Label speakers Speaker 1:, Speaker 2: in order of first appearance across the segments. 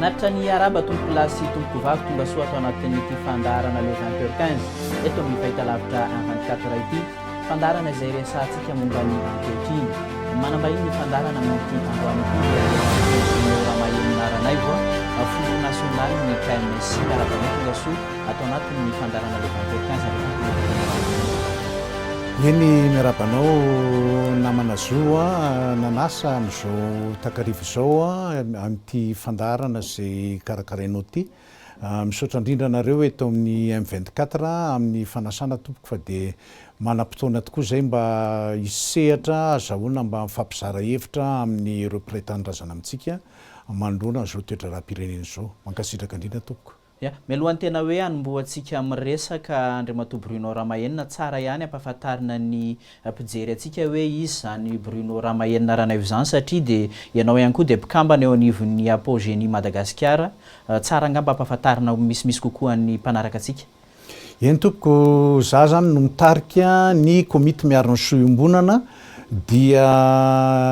Speaker 1: Manatitra ny araba tompokolahy sy tompokovavy tonga soa ato anatin'ity fandaharana Le 20 heures 15 eto amin'ny fahitalavitra un 24 heures ity, fandaharana izay resahantsika momba ny ankehitriny. Manambahiny ny fandaharana amin'ity androany ity dia Général Généraux Ramahery Naranaivo, Filoha nasionalin'ny KMSI miaraka amin'ny tonga soa. ato anatin ny
Speaker 2: fandaharana le vingt et un janvier fito ambin'ny folo sy roa arivo. Eny miarahaba anao namana zo a, nanasa amin'izao takariva izao a, amin'ity fandaharana izay karakarainao ity. Misaotra indrindra anareo eto amin'ny M vingt quatre amin'ny fanasana tompoko fa dia manam-potoana tokoa izay mba hisehatra azahoana mba mifampizara hevitra amin'ireo mpiray tanindrazana amintsika manoloana izao toedraram-pirenena izao. Mankasitraka indrindra tompoko. Ya, mialohan'ny tena
Speaker 1: hoe hanombohantsika miresaka Andriamatoa Bruno Ramahenina, tsara ihany ampahafantarina ny mpijery antsika hoe iza izany Bruno Ramahenina Ranaivo izany satria dia ianao ihany koa dia mpikambana eo anivon'ny Apo Génie Madagasikara, tsara angamba ampahafantarina misimisy kokoa ny mpanaraka antsika Eny tompoko,
Speaker 2: za izany no mitarika ny komity miaro ny soa iombonana dia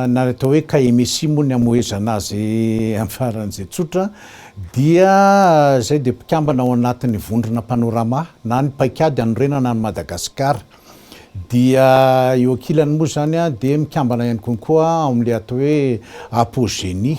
Speaker 2: na atao hoe KMSI moa ny amohezana azy amin'ny faran'izay tsotra dia zay dia mpikambana ao anatin'ny vondrona Panorama na ny paikady hanorenana an'i Madagasikara dia eo ankilany moa izany dia mikambana ihany koa koa ao amin'ilay atao hoe Apogenie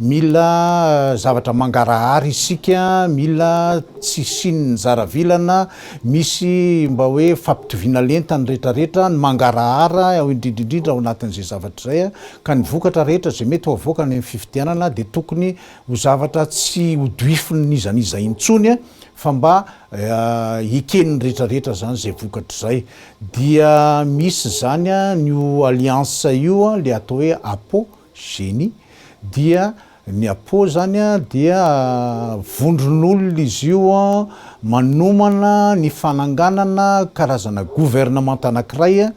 Speaker 2: Mila zavatra mangarahara isika, mila tsy hisian'ny zaravilana, misy mba hoe fampitoviana lenta ny rehetrarehetra, ny mangarahara indrindra indrindra ao anatin'izay zavatra izay, ka ny vokatra rehetra izay mety ho avoaka any amin'ny fifidianana dia tokony ho zavatra tsy hodoifin'iza n'iza intsony fa mba eken'ny rehetrarehetra izany izay vokatra izay. Dia misy izany an io alliance io, ilay atao hoe Apo, Génie, dia ny Apo zany a dia vondron'olona izy io manomana ny fananganana karazana governemanta anankiray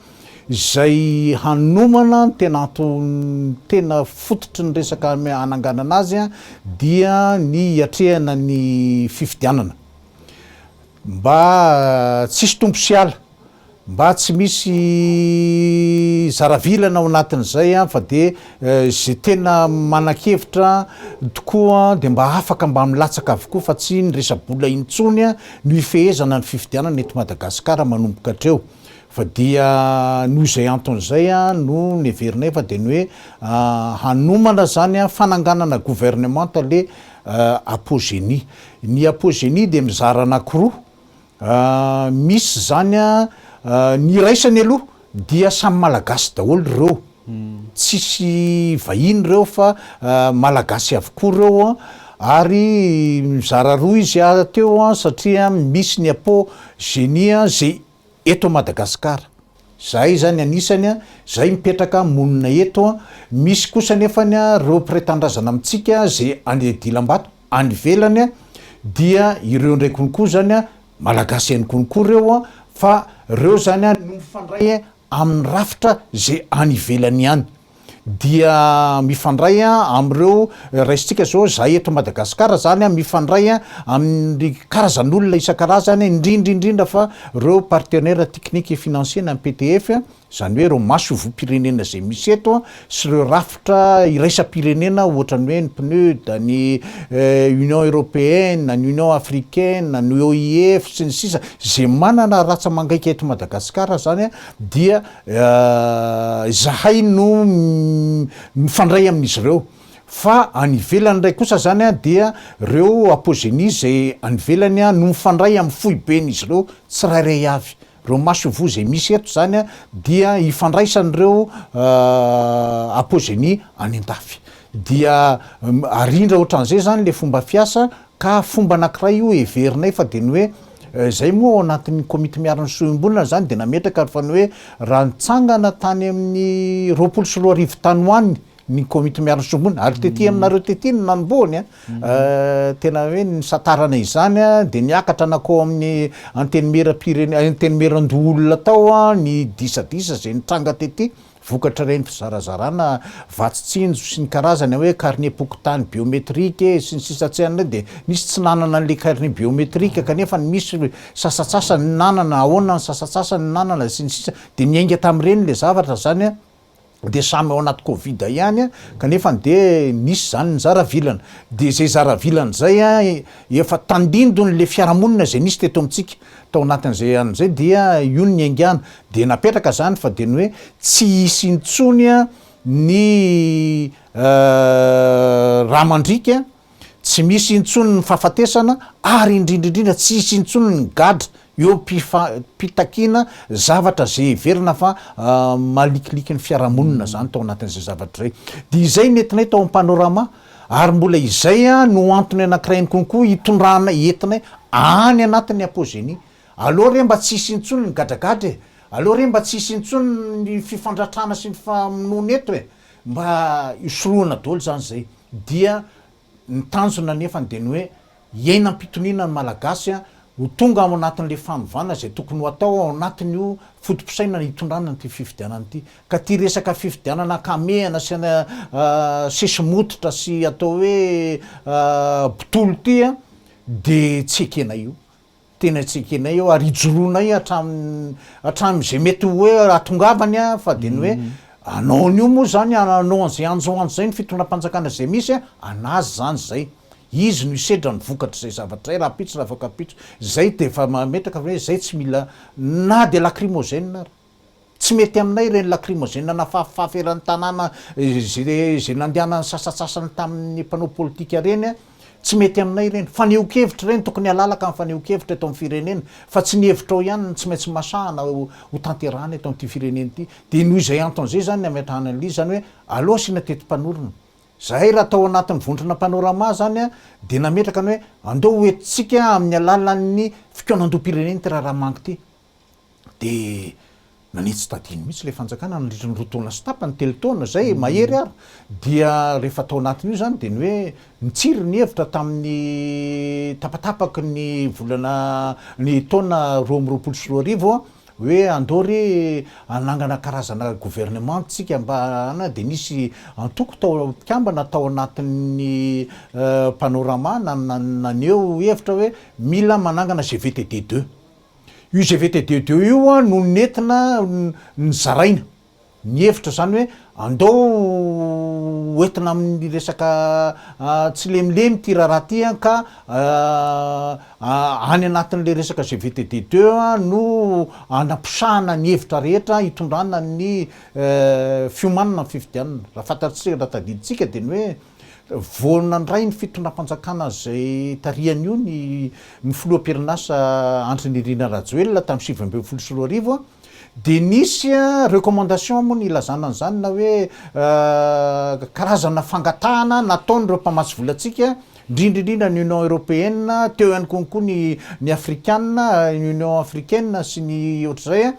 Speaker 2: izay hanomana ny tena antony tena fototry ny resaka hananganana azy dia ny hiatrehana ny fifidianana mba tsisy tompo sy ala Mba tsy misy zara vilana ao anatin'izay an, fa dia izay tena manan-kevitra tokoa dia mba afaka mba milatsaka avokoa fa tsy ny resa-bola intsony an no hifehezana ny fifidianana eto Madagasikara manomboka hatreo. Fa dia noho izay antony izay an no neverinay fa dia ny hoe hanomana izany an fananganana governemanta le Apogenie. Ny Apogenie dia mizara anankiroa, Misy izany a, ny iraisany aloha dia samy malagasy daholo ireo, tsisy vahiny ireo fa malagasy avokoa ireo a, ary mizara roa izy a teo a, satria misy ny apo genie a ze eto Madagascar, zahay zany anisany a, zahay mipetraka monina eto a, misy kosa nefany a reo mpiray tanindrazana amintsika ze any dilambato, any ivelany dia ireo indray konko zany malagasy ihany konko reo fa reo zany no mifandray amin'ny rafitra ze any ivelany any dia mifandray amin'ireo raisintsika zao za eto Madagascar zany mifandray amin'ny karazan'olona isan-karazany indrindra indrindra fa reo partenaire technique et financier na ny PTF Izany hoe ireo masoivohom-pirenena izay misy eto sy ireo rafitra iraisam-pirenena ohatran'ny hoe ny PNUD, ny Union Européenne, ny Union Africaine, ny OIF sy ny sisa izay manana ratsa-mangaika eto Madagasikara izany dia izahay no mifandray amin'izy ireo. Fa any ivelany indray kosa izany dia ireo Apogenies izay any ivelany no mifandray amin'ny foiben'izy ireo tsirairay avy. Ireo masoivoho izay misy eto izany dia ifandraisan'ireo apogenie any an-dafy. Dia arindra ohatran'izay izany ilay fomba fiasa ka fomba anankiray io heverinay fa dia ny hoe izay moa ao anatin'ny komity miarin'ny soa iombonana izany dia nametraka ary fa ny hoe raha nitsangana tany amin'ny roapolo sy roa arivo tany ho any ny komity miaro ny sombiny ary tety aminareo tety no nanombohany a tena hoe ny nisantarana izany a dia niakatra nakao amin'ny antenimieram-pirene- antenimieran-doholona tao a ny disadisa izay nitranga tety vokatr'ireny fizarazarana vatsy tsinjo sy ny karazany hoe karnem-pokontany biometrike sy ny sisa tsy an'ireny dia nisy tsy nanana an'ilay karne biometrika kanefa ny misy sasatsasany ny nanana ahoana ny sasatsasany ny nanana sy ny sisa dia niainga tamin'ireny ilay zavatra izany a dia samy ao anaty covid ihany a, kanefany dia misy izany ny zara vilana, dia izay zara vilana izay a efa tandindony le fiarahamonina izay nisy teto amintsika tao anatin'izay andro izay dia io no niaingàna, dia napetraka izany fa dia ny hoe tsy hisy intsony a ny raha mandriaka. Tsy misy intsony ny fahafatesana ary indrindra indrindra tsy hisy intsony ny gadra eo am-pitakiana zavatra izay heverina fa malikiliky ny fiarahamonina izany tao anatin'izay zavatra izay. Dia izay ny entinay tao amin'ny Panorama ary mbola izay no antony anankiray ihany konkoa hitondranay, entinay any anatin'ny Apogenie. Aleo re mba tsy hisy intsony ny gadragadra e! Aleo re mba tsy hisy intsony ny fifandratrana sy ny famonoana eto e! Mba hisorohana daholo izany izay. Dia ny tanjona anefany dia ny hoe hiaina am-pitoniana ny Malagasy ho tonga ao anatin'ilay fanovana izay tokony ho atao ao anatin'io foto-pisainana hitondrana an'ity fifidianana ity. Ka ity resaka fifidianana ankamehana sy sesimototra sy atao hoe botolo ity dia tsy ekenay io. Tena tsy ekenay eo ary ijoroanay hatramin'izay mety ho hoe hahatongavany an, fa dia ny hoe anaony io moa izany an, anao an'izay anjo anjo izay ny fitondram-panjakana izay misy an, anazy izany izay. Izy no hisedra ny vokatr'izay zavatra izay, rahampitso na afaka ampitso. Izay dia efa mametraka fa hoe izay tsy mila na dia lacrymogène ary. Tsy mety aminay ireny lacrymogène nafafafafy eran'ny tanàna izay nandehanan'ny sasatsasany tamin'ny mpanao politika ireny, tsy mety aminay ireny. Fanehoan-kevitra ireny, tokony halalaka ny fanehoan-kevitra eto amin'ny firenena fa tsy ny hevitrao ihany no tsy maintsy masahana ho tanterahana eto amin'ity firenena ity. Dia noho izay antony izay izany ny hametrahana an'ilay izy, izany hoe aleo asiana teti-panorona. Izahay raha tao anatin'ny vondrona Panorama izany dia nametraka ny hoe andao ho entintsika amin'ny alalan'ny fikaonandoham-pirenena ity raharaha mangy ity. dia nanitsy tadiny mihitsy ilay fanjakana nandritra ny roa taona sy tapany, telo taona izay, mahery ary. Dia rehefa tao anatin'io izany dia ny hoe nitsiry ny hevitra tamin'ny tapatapaky ny volana, ny taona roa amby roapolo sy roa arivo hoe andao re hanangana karazana gouvernement isika mba hana, dia nisy antoko tao, mpikambana tao anatin'ny Panorama naneho hevitra hoe mila manangana GVTD deux. Io GVT deux deux io no nentina nizaraina ny hevitra izany hoe andao ho entina amin'ny resaka tsilemilemy ity raharaha ity ka any anatin'ilay resaka GVT deux deux no anaposahana ny hevitra rehetra hitondrana ny fiomanana ny fifidianana. Raha fantatsika, raha tadidintsika dia ny hoe. Vao nandray ny fitondram-panjakana izay tarihany io ny ny filoha am-perinasa Andry Nirina Rajoelina tamin'ny sivy ambin'ny folo sy roa arivo dia nisy recommandation moa nilazana an'izany na hoe karazana fangatahana nataon'ireo mpamatsy volantsika indrindra indrindra ny Union Européenne teo ihany koa ny ny Afrikana, Union Africaine sy ny ohatr'izay,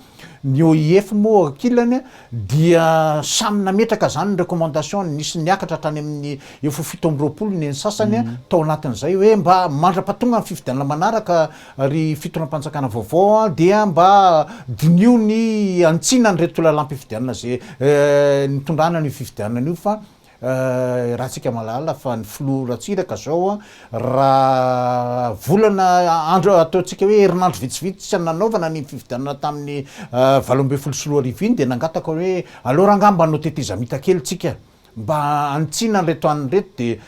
Speaker 2: Ny OIF moa ankilany dia samy nametraka izany ny recommandation-ny, nisy niakatra hatrany amin'ny efa ho fito amby roapolo ny eny sasany tao anatin'izay hoe mba mandra-pahatonga ny fifidianana manaraka ry fitondram-panjakana vaovao dia mba diniho ny hanitsiana an'ireto lalam-pifidianana izay nitondrana an'io fifidianana io fa Ratsika mahalala fa ny filoha Ratsiraka zao raha volana andro ataontsika hoe herinandro vitsivitsy tsy nanaovana ny fifidianana tamin'ny valo ambin'ny folo sy roa arivo iny dia nangataka hoe aleo rangah mba anao tetezamita kely tsika mba hanitsiana an'ireto anona ireto dia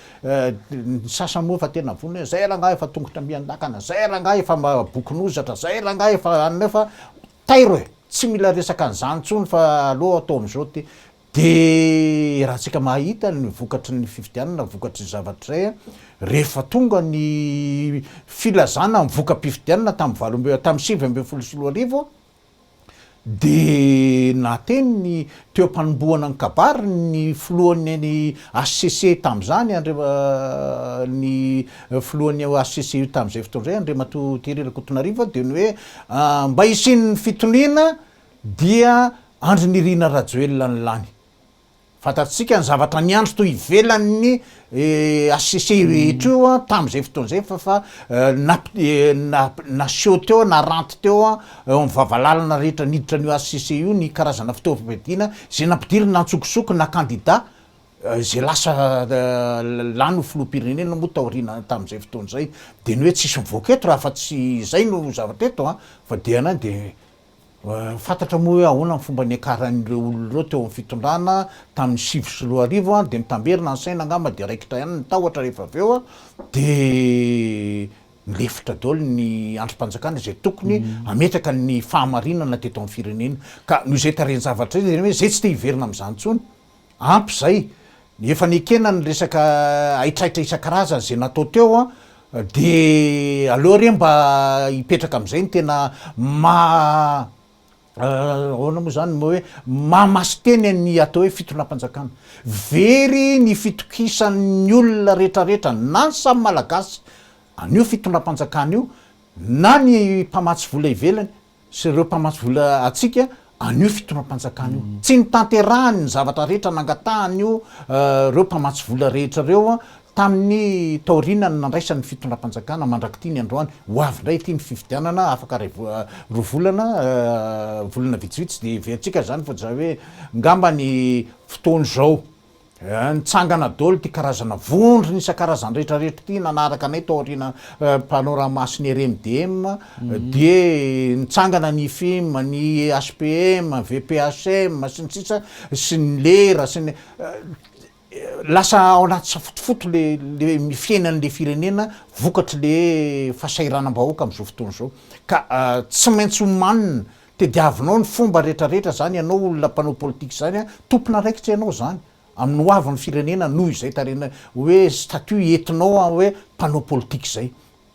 Speaker 2: ny sasany moa efa tena vonona hoe zay rangah efa tongotra miandakana zay rangah efa bokon'ozatra zay rangah efa anona eo fa tairo e tsy mila resaka an'izany intsony fa aleo atao amin'izao ity Dia raha tsika mahita ny vokatry ny fifidianana, vokatry ny zavatra izay, rehefa tonga ny filazana ny voka-pifidianana tamin'ny valo ambin'ny, tamin'ny sivy ambin'ny folo sy roa arivo, dia nahateny ny teo am-panombohana ny kabary ny filohan'ny ny HCC tamin'izany, Andriam-, ny filohan'ny HCC tamin'izay fotoana izay, Andriamatoa Thierry Rakotonarivo, dia ny hoe mba hisian'ny fitoniana Dia Andry Nirina Rajoelina no lany. Fantatsika ny zavatra niandry to ivelan'ny HCC rehetra io tamin'izay fotoana izay fa fa naseho teo, naranty teo eo amin'ny vavalalana rehetra niditra an'io HCC io ny karazana fitaovam-piadiana izay nampidirina antsokosoko na kandida izay lasa lany ho filoham-pirenena moa taoriana tamin'izay fotoana izay. Dia ny hoe tsisy mivoaka eto raha fa tsy izay no zavatra eto an! Fa dia na dia. Fantatra moa hoe ahoana ny fomba niakaran'ireo olona ireo teo amin'ny fitondrana tamin'ny sivy sy roa arivo dia nitamberina ny saina angamba dia raikitra ihany ny tahotra rehefa avy eo dia nilefitra daholo ny andrim-panjakana izay tokony hametraka ny fahamarinana teto amin'ny firenena ka noho izay tarehin-javatra izay hoe izay tsy te hiverina amin'izany intsony Ampy izay, ny efa nekena ny resaka haitraitra isan-karazany izay natao teo an, dia aleo re mba hipetraka amin'izay ny tena maha ahoana moa izany ny hoe maha masin-teny ny atao hoe fitondram-panjakana. Very ny fitokisan'ny olona rehetrarehetra na ny samy Malagasy an'io fitondram-panjakana io na ny mpamatsy vola ivelany sy ireo mpamatsy vola antsika an'io fitondram-panjakana io. Tsy notanterahany ny zavatra rehetra nangatahany ireo mpamatsy vola rehetra ireo tamin'ny taorianan'ny nandraisany ny fitondram-panjakana mandrak'ity ny androany. Ho avy indray ity ny fifidianana, afaka iray roa volana, volana vitsivitsy dia heverantsika izany fa tsy izany hoe ngamba ny fotoan'izao. Eh, nitsangana dolo ty karazana vondrona isan-karazany rehetra rehetra ty nanaraka anay tao aoriana eh, Panorama sy ny RMDM, mhm. dia nitsangana ny IFIM, ny HPM, VPHM sy ny sisa sy ny lera sy ny eh, lasa ao anaty safotofoto le le fiainan'le firenena vokatry le fasahiranam-bahoaka am'izao fotoana izao ka uh, tsy maintsy omanina Tediavinao ny fomba retraretra zany ianao olona mpanao politika zany a, tompon'araikitra ianao zany amin'ny ho avin'ny firenena noho izay tarena hoe statut etinao a hoe mpanao politika zay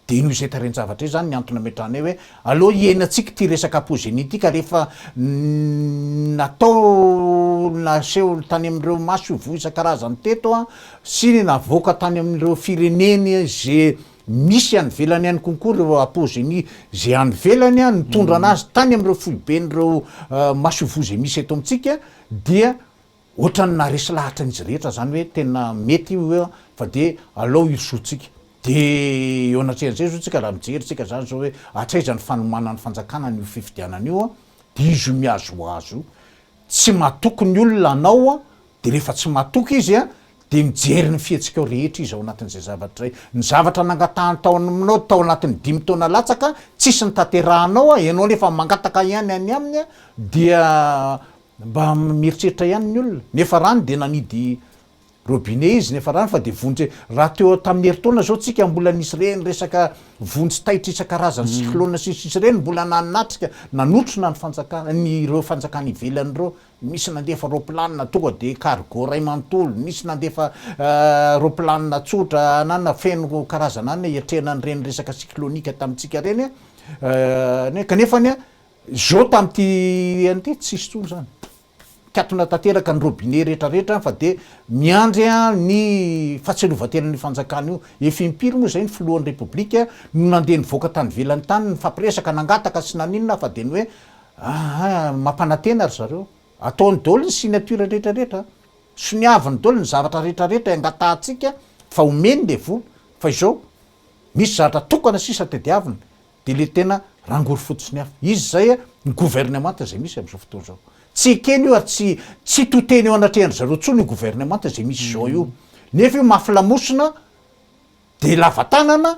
Speaker 2: de noho izay tarehin-javatra izay zany ny antony ametrahanay hoe aleo hiainantsika ity resaka apozenia ity ka rehefa natao naseho tany amin'ireo maso voa isan-karazany teto a sy navoaka tany amin'ireo fireneny ze Misy any ivelany any konko ireo apozenis izay any ivelany nitondra anazy tany amin'ireo foiben'ireo masoivoho izay misy eto amintsika dia ohatran'ny naharesy lahatra an'izy rehetra izany hoe tena mety io hoe fa dia alao hirosoantsika. Dia eo anatrehan'izay izao tsika raha mijery tsika izany izao hoe hatraiza ny fanomanan'ny fanjakana an'io fifidianana io dia izy io mihazohazo io. Tsy matoky ny olona anao Dia rehefa tsy matoky izy dia mijery ny fihetsikao rehetra izy ao anatin'izay zavatra izay. Ny zavatra nangatahany tao aminao tao anatin'ny dimy taona latsaka, tsisy notanterahanao, ianao anie efa mangataka ihany any aminy dia mba mieritreritra ihany ny olona. Ny efa rany dia nanidy robinet izy, ny efa rany fa dia vonjy, raha teo tamin'ny herintaona izao tsika mbola nisy ireny resaka vonjy taitra isan-karazany cyclone sy ny sisa ireny mbola nanatrika, nanotrona ny fanjakana, ireo fanjakana ivelany ireo. Nisy nandefa raoplanina tonga dia cargo iray manontolo, nisy nandefa raoplanina tsotra anana feno karazana anana hiatrehana an'ireny resaka cyclonique tamintsika ireny an, kanefa ny zao tamin'ity an'ity tsy nisy intsony izany. Mikatona tanteraka ny robinet rehetra rehetra fa dia miandry ny fahatsiarovan-tenan'io fanjakana io. Efa impiry moa izay ny filohan'ny Repoblika no nandeha nivoaka tany ivelany tany nifapiresaka nangataka sy naninona fa dia ny hoe Aa mampanantena ry zareo, ataony daholo ny signature rehetra rehetra, soniaviny daholo ny zavatra rehetra rehetra engatahantsika fa homeny le vola fa izao misy zavatra tokana sisa tadiaviny de le tena rangory foty sy ny afo, izy izay ny gouvernemanta izay misy amzao fotoana izao, tsy ekeny io ary tsy tsy toteny eo anatrehan-dry zareo tsony io gouvernemanta izay misy izao io nefa io mafy lamosina, Dia lava tanana,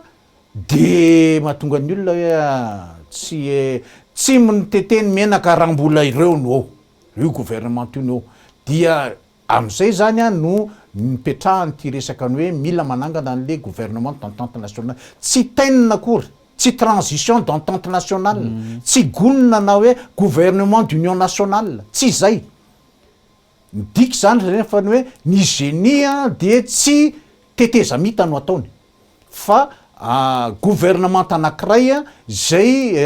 Speaker 2: dia mahatonga ny olona hoe tsy tsimo ny tete ny menaka raha mbola ireo no ao, io gouvernement io no ao. Dia amin'izay izany no nipetrahan'ity resaka ny hoe mila manangana an'ilay gouvernement d'entente nationale. Tsy tenona akory, tsy transition d'entente nationale, tsy gonina na hoe gouvernement d'union nationale, tsy izay. Midika izany ry rehefa ny hoe ny génie dia tsy tetezamita no ataony fa gouvernemanta anankiray izay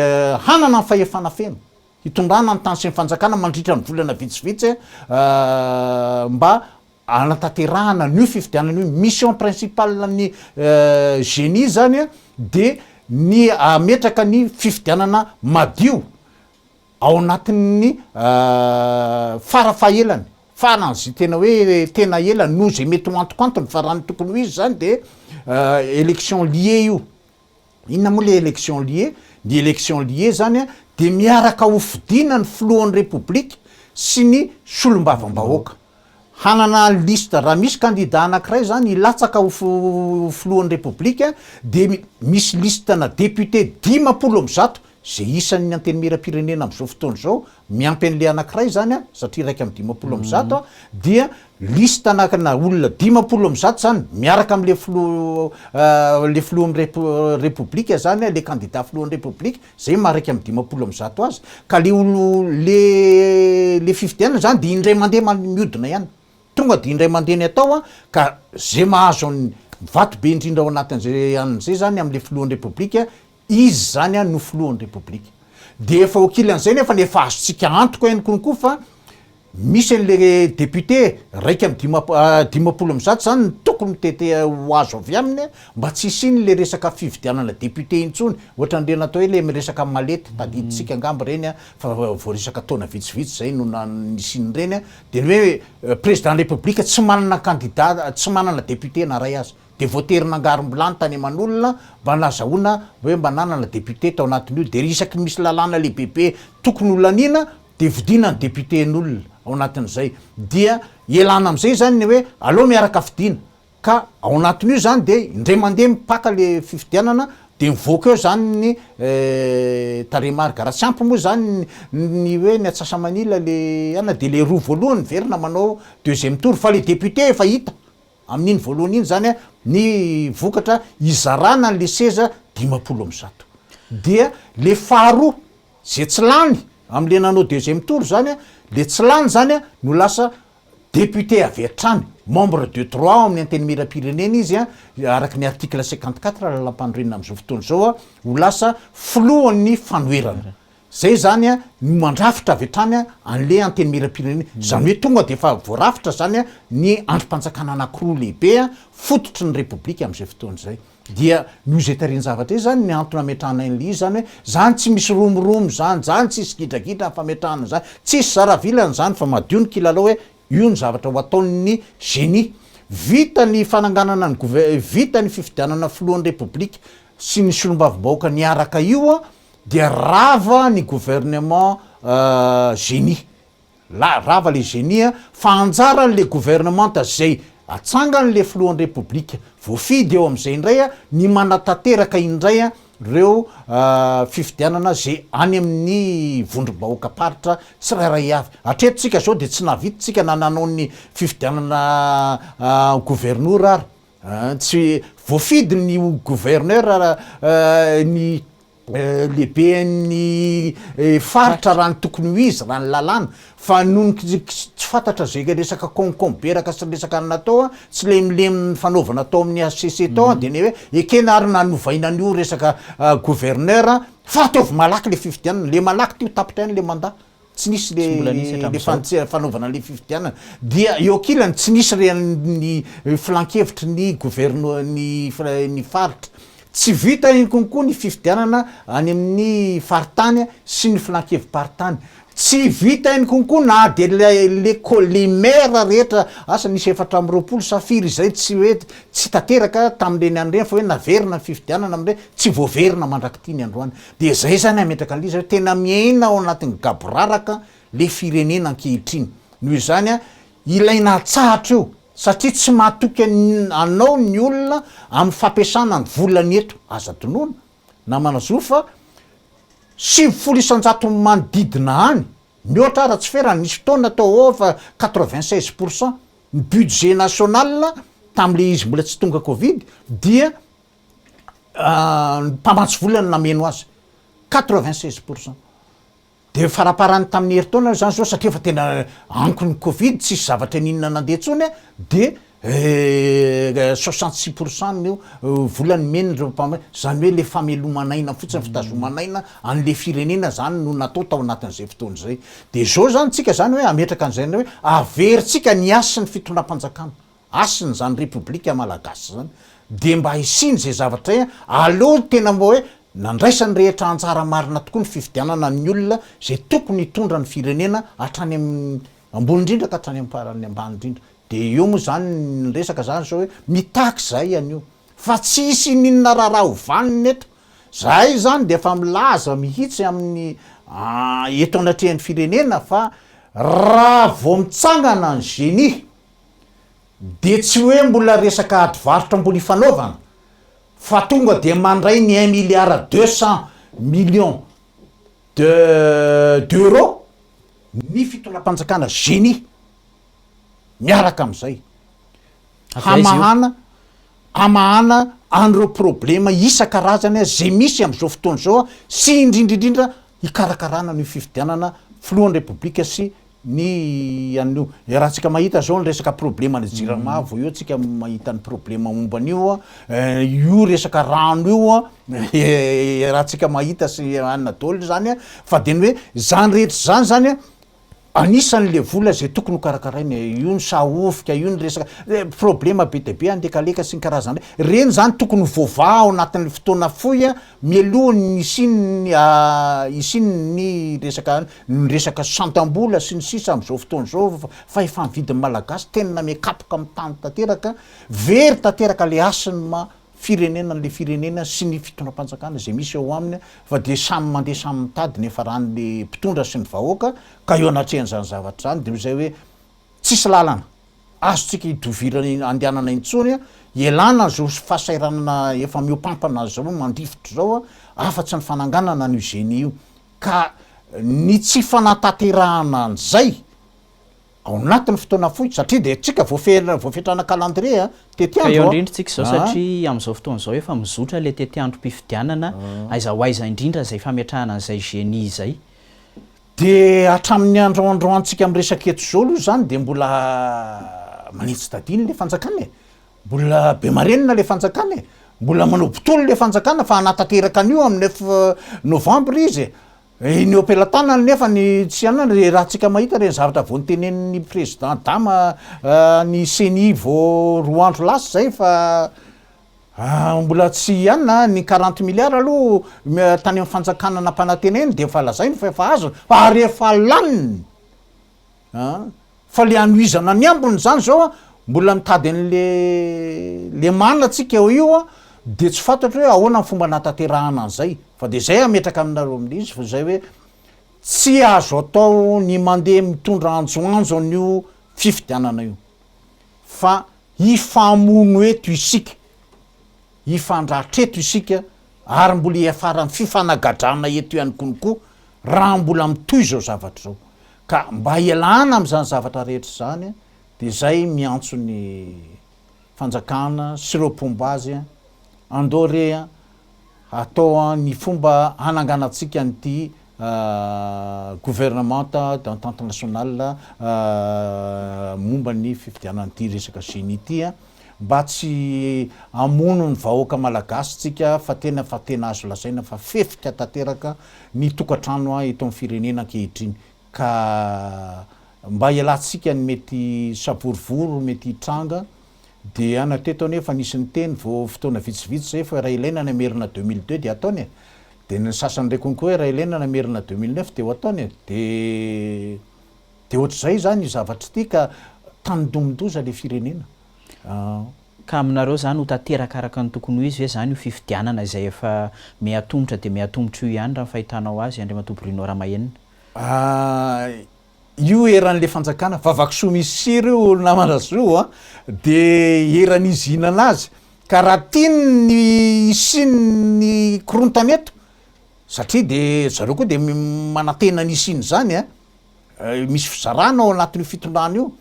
Speaker 2: hanana ny fahefana feno hitondrana ny tany sy ny fanjakana mandritra ny volana vitsivitsy mba hanatanterahana an'io fifidianana io. Mission principale ny génie izany dia ny hametraka ny fifidianana madio Ao anatin'ny fara fahelany, farany izay tena hoe tena ela noho izay mety ho antokantony fa raha ny tokony ho izy izany dia élection liée io. Inona moa ilay élection liée? Ny élection liée izany dia miaraka hofidina ny filohan'ny Repoblika sy ny solombavambahoaka. Hanana liste, raha misy kandida anankiray zany hilatsaka ho filohan'ny Repoblika dia misy liste ana député dimampolo amby zato izay isan'ny antenimieram-pirenena amin'izao fotoana izao, miampy an'ilay anankiray zany an, satria iraika amby dimampolo amby zato an, dia liste ana olona dimampolo amby zato zany miaraka amin'ilay filoha ilay filohan'ny Repoblika zany an, ilay kandida filohan'ny Repoblika, zay maha iraika amby dimampolo amby zato azy, ka le olo le le fifidianana zany de indray mande man- miodina ihany, tonga de indray mande ny atao an, ka ze mahazo an ny vato be indrindra ao anatin'zay an zay zany amle filohan'ny repoblika, izy zany an no filohan'ny repoblika, de efa okilan'zay nefany efa azontsika antoka ihany koa fa, Misy anle député raika amby dimampolo amby zato zany ny tokony mitete ho azo avy aminy mba tsy hisiany le resaka fividianana député intsony ohatran'ireny atao hoe le miresaka malety tadidintsika angamba ireny a fa voaresaka taona vitsivitsy zay no nisian'ireny de ny hoe président république tsy manana candidat tsy manana député na ray aza de voatery nangarimbilany tany aman'olona mba nazahoana hoe mba nanana député tao anatin'io de isaky misy lalàna lehibebe tokony ho laniana dia vidiana ny députés-n'olona ao anatin'izay dia ialana amin'izay izany ny hoe aleo miaraka vidiana ka ao anatin'io izany dia indray mandeha mipaka ilay fifidianana dia mivoaka eo izany ny tarehimarika, raha tsy ampy moa izany ny hoe ny atsasamanila ilay anona dia ilay roa voalohany miverina manao deuxième tour fa ilay députés efa hita amin'iny voalohany iny izany ny vokatra hizarana an'ilay seza dimampolo amby zato dia ilay faharoa Ze tsy lany am le nanao deuxième tour zany a, le tsy lany zany a no lasa député avy hatrany, membre de droit ao amin'ny Antenimierampirenena izy a, araky ny article cinquante quatre lalampanorenana amzao fotoana zao a, ho lasa filohan'ny fanoherana. Zay zany a no mandrafitra avy hatrany a anle Antenimierampirenena, zany hoe tonga de efa voarafitra zany a ny andrim-panjakana anakiroa lehibe a fototry ny Repoblika amzay fotoana zay. Dia noho izay tarehin-javatra izay izany ny antony ametrahanay an'ilay izy izany hoe izany tsy misy romoromo izany, izany tsisy gidragidra ny fametrahana an'izany, tsisy zara vilany izany fa madio ny kilalao hoe io ny zavatra ho ataon'ny génie. Vita ny fananganana ny gouve, vita ny fifidianana filohan'ny Repoblika sy ny solombavambahoaka niaraka io dia rava ny gouvernement génie. La rava le génie a! Fa anjaran le gouvernementa zay atsangan le filohan repoblika voafidy eo am zay ndray a ny manatanteraka indray a reo fifidianana zay any am ny vondrom-bahoaka paritra tsirairay avy. Atreto tsika zao de tsy nahavita tsika na nanao ny fifidianana governora ary. Tsy voafidy ny ho gouverneur ny lehiben'ny faritra raha ny tokony ho izy raha ny lalàna fa noho ny tsy fantatra izay resaka konkomberaka sy resaka anona tao a, tsy lemilemy nifanaovana tao amin'ny HCC tao a, dia ny hoe ekena ary nanovaina an'io resaka gouverneur fa ataovy malaky ilay fifidianana, ilay malaky ity ho tapitra ihany ilay mandat. tsy nisy le le fanaovana le fifidianana dia eo ankilany tsy nisy re ny filankevitry ny governo ny ny faritra tsy vita iny konko ny fifidianana any amin'ny faritany sy ny filankevi-paritany tsy vita iny konko na de le le ko le maire rehetra asa nisy efatra amby roapolo sa firy izay tsy hoe tsy tanteraka tamle ny andreny fa hoe naverina ny fifidianana amle tsy voaverina mandrak'ity ny androany Dia zay zany hametraka anle izy hoe tena miaina ao anatin'ny gaboraraka le firenena ankehitriny. Noho izany ilaina atsahatra io satria tsy mahatoky anao ny olona amin'ny fampiasana ny volany eto. Aza tonona namana zo fa sivifolo isanjaton'ny manodidina any, mihoatra ara tsy ferany, nisy fotoana tao ho ava quatre-vingt seize pourcent ny budget national tamin'le izy mbola tsy tonga covid dia mpamatsy vola no nameno azy, quatre vingt seize pour cent. Dia faraparany tamin'ny herintaona izany izao satria efa tena anko ny covid, tsisy zavatra n'inona nandeha intsony a, dia soixante six pour cent no vola nomen'ireo mpamatsy, izany hoe ilay fameloman'aina fotsiny, fitazoman'aina an'ilay firenena izany no natao tao anatin'izay fotoana izay. Dia izao izany tsika izany hoe hametraka an'izay hoe averintsika ny hasin'ny fitondram-panjakana. Hasina zany repoblika malagasy zany de mba hisiny izay zavatra e aleo ny tena mba hoe nandraisany rehetra anjara marina tokoa ny fifidianana ny olona izay tokony hitondra ny firenena hatrany amin'ny ambony indrindra ka hatrany amin'ny faran'ny ambany indrindra de eo moa zany ny resaka zany zao hoe mitaky zay anio fa tsy hisy ininona raharaha ho vanona eto zahay izany de efa milaza mihitsy amin'ny eto anatrehan'ny firenena fa raha vao mitsangana ny genie dia tsy hoe mbola resaka ady varotra mbola ifanaovana fa tonga dia mandray ny un milliard deux cent millions de d'euros ny fitondram-panjakana génie miaraka amin'izay hamahana hamahana an'ireo problema isan-karazany izay misy amin'izao fotoana izao sy indrindra indrindra hikarakarana an'io fifidianana filohan'ny Repoblika sy ny an'io. Raha tsika mahita izao ny resaka probleman'ny jirama vao eo tsika mahita ny problema momba an'io, io resaka rano io raha tsika mahita sy anona daholo izany fa dia ny hoe izany rehetra izany izany Anisany le vola izay tokony ho karakaraina e, io ny sahofika, io ny resaka problema be dia be an dekaleka sy ny karazany reny, reny izany tokony ho voavaha ao anatin'ny fotoana fohy a, mialohan'ny hisian'ny a hisian'ny resaka an ny resaka santam-bola sy ny sisa amin'izao fotoana izao fa efa ny vidin'ny malagasy tena miha kapoka amin'ny tany tanteraka, very tanteraka le hasin'ny maha firenena an'ilay firenena sy ny fitondram-panjakana izay misy ao aminy fa dia samy mandeha samy mitady ny hiafaran'ny mpitondra sy ny vahoaka ka eo anatrehan'izany zavatra izany dia izay hoe tsisy lalana azontsika idovirana andehanana intsony ialana izao fahasahiranana efa mihoampampana azy izao mandrifotra izao afa-tsy ny fananganana an'io zenia io ka ny tsy fanantaterahana an'izay ao anatin'ny fotoana fohy satria dia tsika voafehera voafetrana calendrier a, tetiandro a, ka eo andrindrintsika
Speaker 1: izao satria amin'izao fotoana izao efa mizotra ilay tetiandrom-pifidianana aiza ho aiza indrindra izay fametrahana an'izay genie izay. Dia
Speaker 2: hatramin'ny andro iandroantsika miresaka eto izao aloha izany dia mbola manitsy tadiny ilay fanjakana e, mbola be marenina ilay fanjakana e, mbola manao botolo ilay fanjakana fa hanatanteraka an'io amin'ny neuf novembre izy e, Eny ampelatanany nefa ny tsy anana dia raha tsika mahita ireny zavatra vao notenenin'ny Président Dama ny ceni vao roa andro lasa izay fa mbola tsy hianina ny quarante milliards aloha tany amin'ny fanjakana nampanantena eny dia efa lazainy fa efa azony fa ary efa laniny an! Fa le anohizana ny ambiny zany zao an, mbola mitady an'le lemana tsika eo io an, de tsy fantatro hoe ahoana ny fomba hanatanterahana an'zay, fa de zay hametraka aminareo amin'izy fa zay hoe, tsy azo atao ny mandeha mitondra anjoanjo an'io fifidianana io, fa hifamono eto isika, hifandratra eto isika ary mbola hiafaran'ny fifanagadrana eto ihany konko raha mbola mitohy zao zavatra zao, Ka mba ialana amin'izany zavatra rehetra izany dia izay miantso ny fanjakana sy ireo mpomba azy andao re atao ny fomba hananganantsika an'ity gouvernement d'entente nationale momba ny fifidianana ity resaka génie ity Mba tsy hamono ny vahoaka malagasy tsika fa tena fa tena azo lazaina fa fefika tanteraka ny tokatrano a eto am firenena ankehitriny ka mba ialatsika ny mety savorovoro mety hitranga dia na teto anie efa nisy niteny vo fotoana vitsivitsy zay fa raha ilaina ny hamerina deux mille deux dia ataony e dia ny sasany ndray konko hoe raha ilaina ny hamerina deux mille neuf dia ho ataony e dia Dia ohatr'izay izany io zavatra ity ka tandindomin-doza ilay firenena an!
Speaker 1: Ka aminareo izany ho tanteraka araka ny tokony ho izy ve izany io fifidianana izay efa miha-tomotra dia miha-tomotra io ihany raha ny fahitanao azy Andriamatoa Bruno Ramahenina? Ahh,
Speaker 2: io eran'ilay fanjakana vavakisoa misy sira io ry namana zo an! dia eran'izy hihinana azy ka raha tiany ny hisian'ny korontana eto satria dia zareo koa dia manantena ny hisian'izany an! Misy fizarana ao anatin'io fitondrana io,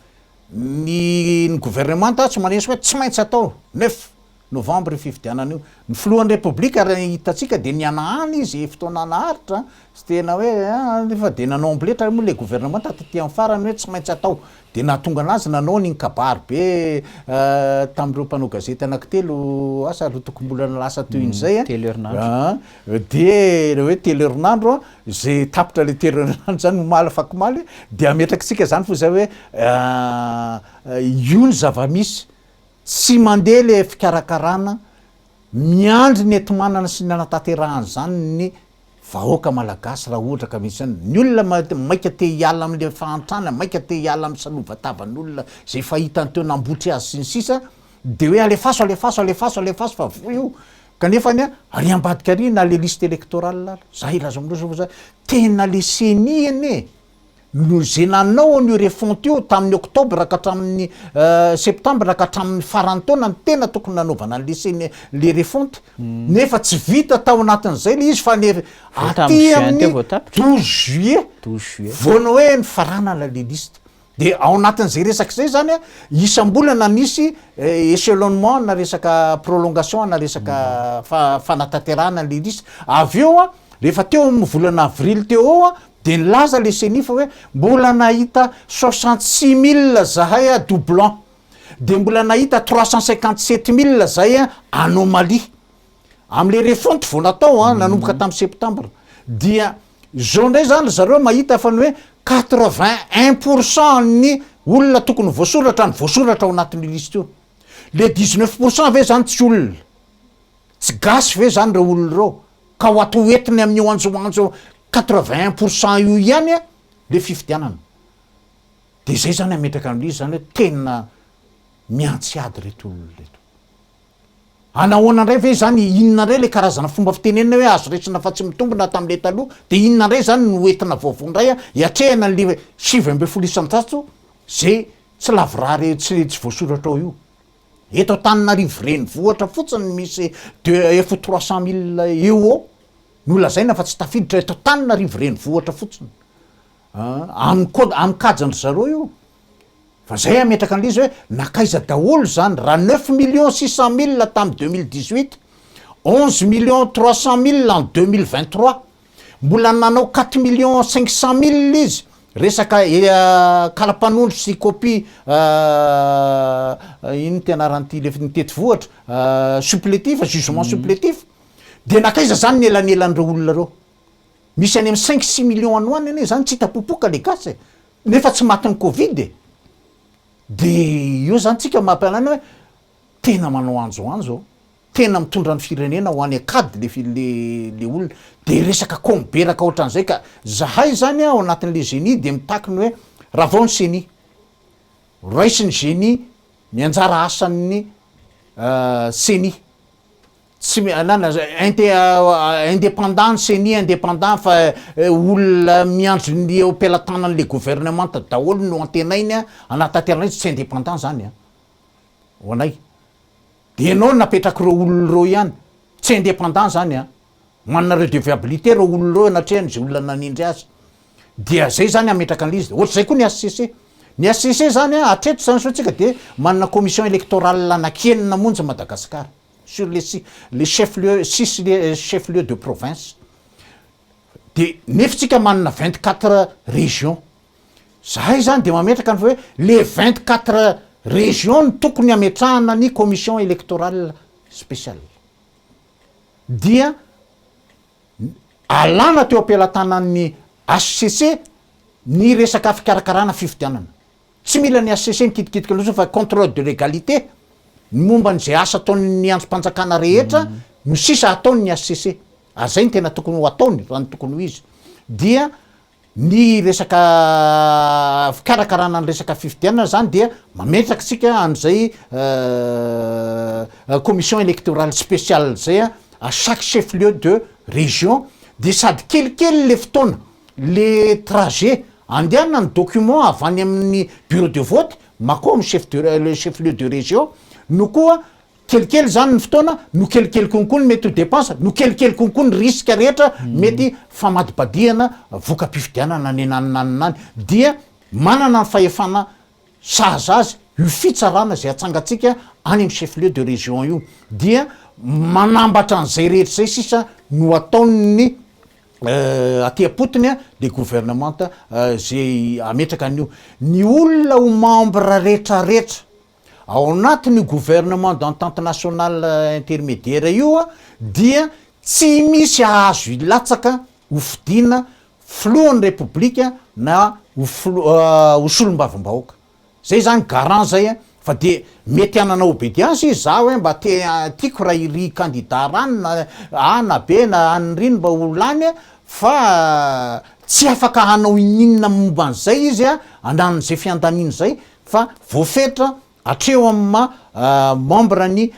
Speaker 2: ny ny governemanta tsy manisy hoe tsy maintsy atao, neuf novembre io fifidianana io, ny filohan'ny repoblika raha ny hitantsika dia nihanahana izy fotoana naharitra, tsy tena hoe ah nefa dia nanao amboletra moa ilay governemanta taty amin'ny farany hoe tsy maintsy atao, dia nahatonga an'azy nanao an'iny kabary be tamin'ireo mpanao gazety anankitelo asa roa toko-bolana lasa toy izay an, telo herinandro.
Speaker 1: Dia
Speaker 2: ilay hoe telo herinandro, izay tapitra ilay telo herinandro izany, omaly afakomaly, dia ametrakitsika izany foana izay hoe io ny zava-misy, tsy mandeha ilay fikarakarana, miandry ny enti-manana sy ny hanatanterahana izany ny vahoaka malagasy raha ohatra ka misy anona. Ny olona maika te hiala amin'ilay fahantrana, maika te hiala amin'ny salovan-tavan'olona izay efa hitany teo, nambotry azy sy ny sisa, dia hoe alefaso, alefaso, alefaso, alefaso fa voa io, Kanefa anie ary ambadika ary na le liste electorale ary za hilaza aminareo fa za tena le ceni anie no ze nanao an'io refonte io tamin'ny octobre ka hatramin'ny septembre ka hatramin'ny faran'ny taona no tena tokony nanaovana an'le ceni le refonte nefa tsy vita tao anatin'izay le izy fa ny aty amin'ny douze juillet vao ny hoe nifaranana le liste De ao anatin'izay resaka izay zany a, isam-bolana misy echelonnement ana resaka prolongation ana resaka fanatanterahana ilay lisy. Avy eo a, rehefa teo amin'ny volana avrily teo eo a, dia nilaza ilay ceni fa hoe mbola nahita soixante six mille zahay a doublons, dia mbola nahita trois cent cinquante sept mille zahay a anomalies. Amin'ilay refonte vao natao an, nanomboka tamin'ny septembre, dia izao indray izany ry zareo mahita fa ny hoe quatre vingt un pour cent ny olona tokony voasoratra no voasoratra ao anatin'io liste io. Ilay dix neuf pour cent ve izany tsy olona? Tsy gasy ve izany ireo olona ireo? Ka ho atao entiny amin'io anjoanjo quatre vingt un pour cent io ihany an ilay fifidianana. Dia izay izany hametraka an'ilay izy izany hoe tena miantsy ady ireto olona ireto. Any ahoana indray ve izany, inona indray ilay karazana fomba fitenenana hoe azo resina fa tsy mitombina tamin'ilay taloha, dia inona indray izany no hoentina vaovao indray hiatrehana an'ilay sivy ambin'ny folo isan-jato izay tsy lavorary re, tsy tsy voasoratra ao io? Eto Antananarivo renivohitra fotsiny no misy deux ef trois cent mille eo ho eo no lazaina fa tsy tafiditra eto Antananarivo renivohitra fotsiny. Aminy koa aminy kajan dry zareo io. Fa zay ametraka anle izy hoe nakaiza daholo zany raha neuf millions six cent mille tam deux mille dix huit, onze millions trois cent mille en deux mille vingt trois, mbola nanao quatre millions cinq cent mille izy, resaka kala mpanondro sy copie ino moa ty anaran'ity le nitety vohitra supplétif, jugement supplétif, de nakaiza zany ny elanelan'ireo olona reo. Misy any am cinq six millions any ho any anie zany tsy hita popoka le gasy e! nefa tsy matin'ny covid e! de eo zany tsika mampialana hoe tena manao anjoanjo an! tena mitondra ny firenena ho any an-kady le fi- le le olona de resaka ko miberaka ohatran'izay ka! zahay zany an ao anatin'le Ceni de mitaky ny hoe ravao ny Ceni! raisin'ny Ceni ny anjara asan'ny Ceni! tsy mialana inte independant ny ceni independant fa olona miandry ny eo am-pelatanan'le governemanta daholo no antenainy a hanatanterana izy tsy independant zany a ho anay de ianao napetrak'ireo olona ireo ihany tsy independant zany a manana redeviabilite ireo olona ireo anatrehany izay olona nanindry azy dia zay zany hametraka an'le izy de ohatr'izay koa ny HCC ny HCC zany a hatreto zany zao tsika de manana commission electorale anankienina monja Madagasikara sur les six les chefs lieux six chefs lieux de province de nefy tsika manana vingt quatre régions zahay zany de mametraka ny fa hoe le vingt quatre régions no tokony ametrahana ny commission électorale spéciale dia alana teo am-pelatanan'ny HCC ny resaka fikarakarana fifidianana Tsy mila ny HCC mikitikitika loatra fa contrôle de légalité ny momba an'izay asa ataon'ny andrim-panjakana rehetra no sisa ataony ny HCC ary izay no tena tokony ho ataony raha ny tokony ho izy dia ny resaka fikarakarana ny resaka fifidianana izany dia mametraka isika an'izay commission électorale spéciale izay à chaque chef lieu de région dia sady kelikely ilay fotoana le trajet andehana ny document avy any amin'ny bureau de vote makao amin'ny chef de le chef lieu de region no koa kelikely zany ny fotoana no kelikely konko ny mety ho depense no kelikely konko ny risque rehetra mety famadibadihana voka-pifidianana any naninanina any dia manana ny fahefana sahaza azy io fitsarana izay atsangatsika any amin'ny chef lieu de region io dia manambatra an'izay rehetra izay sisa no ataon'ny aty am-potony dia gouvernemanta ze hametraka an'io. Ny olona ho membre retraretra ao anatin'io gouvernement d'entente nationale intermédiaire io dia tsy misy hahazo hilatsaka ho fidiana filohan'ny repoblika na ho solombavambahoaka. Zay zany garant zay a, fa de mety hanana obedience izy, za hoe mba te tiako raha iry candidat rano na A na B na an'ny rino mba ho lany a, fa tsy afaka hanao ininona momba an'izay izy a, ananan'izay fiandaniana zay, fa voafetra hatreo amin'ny maha membre ny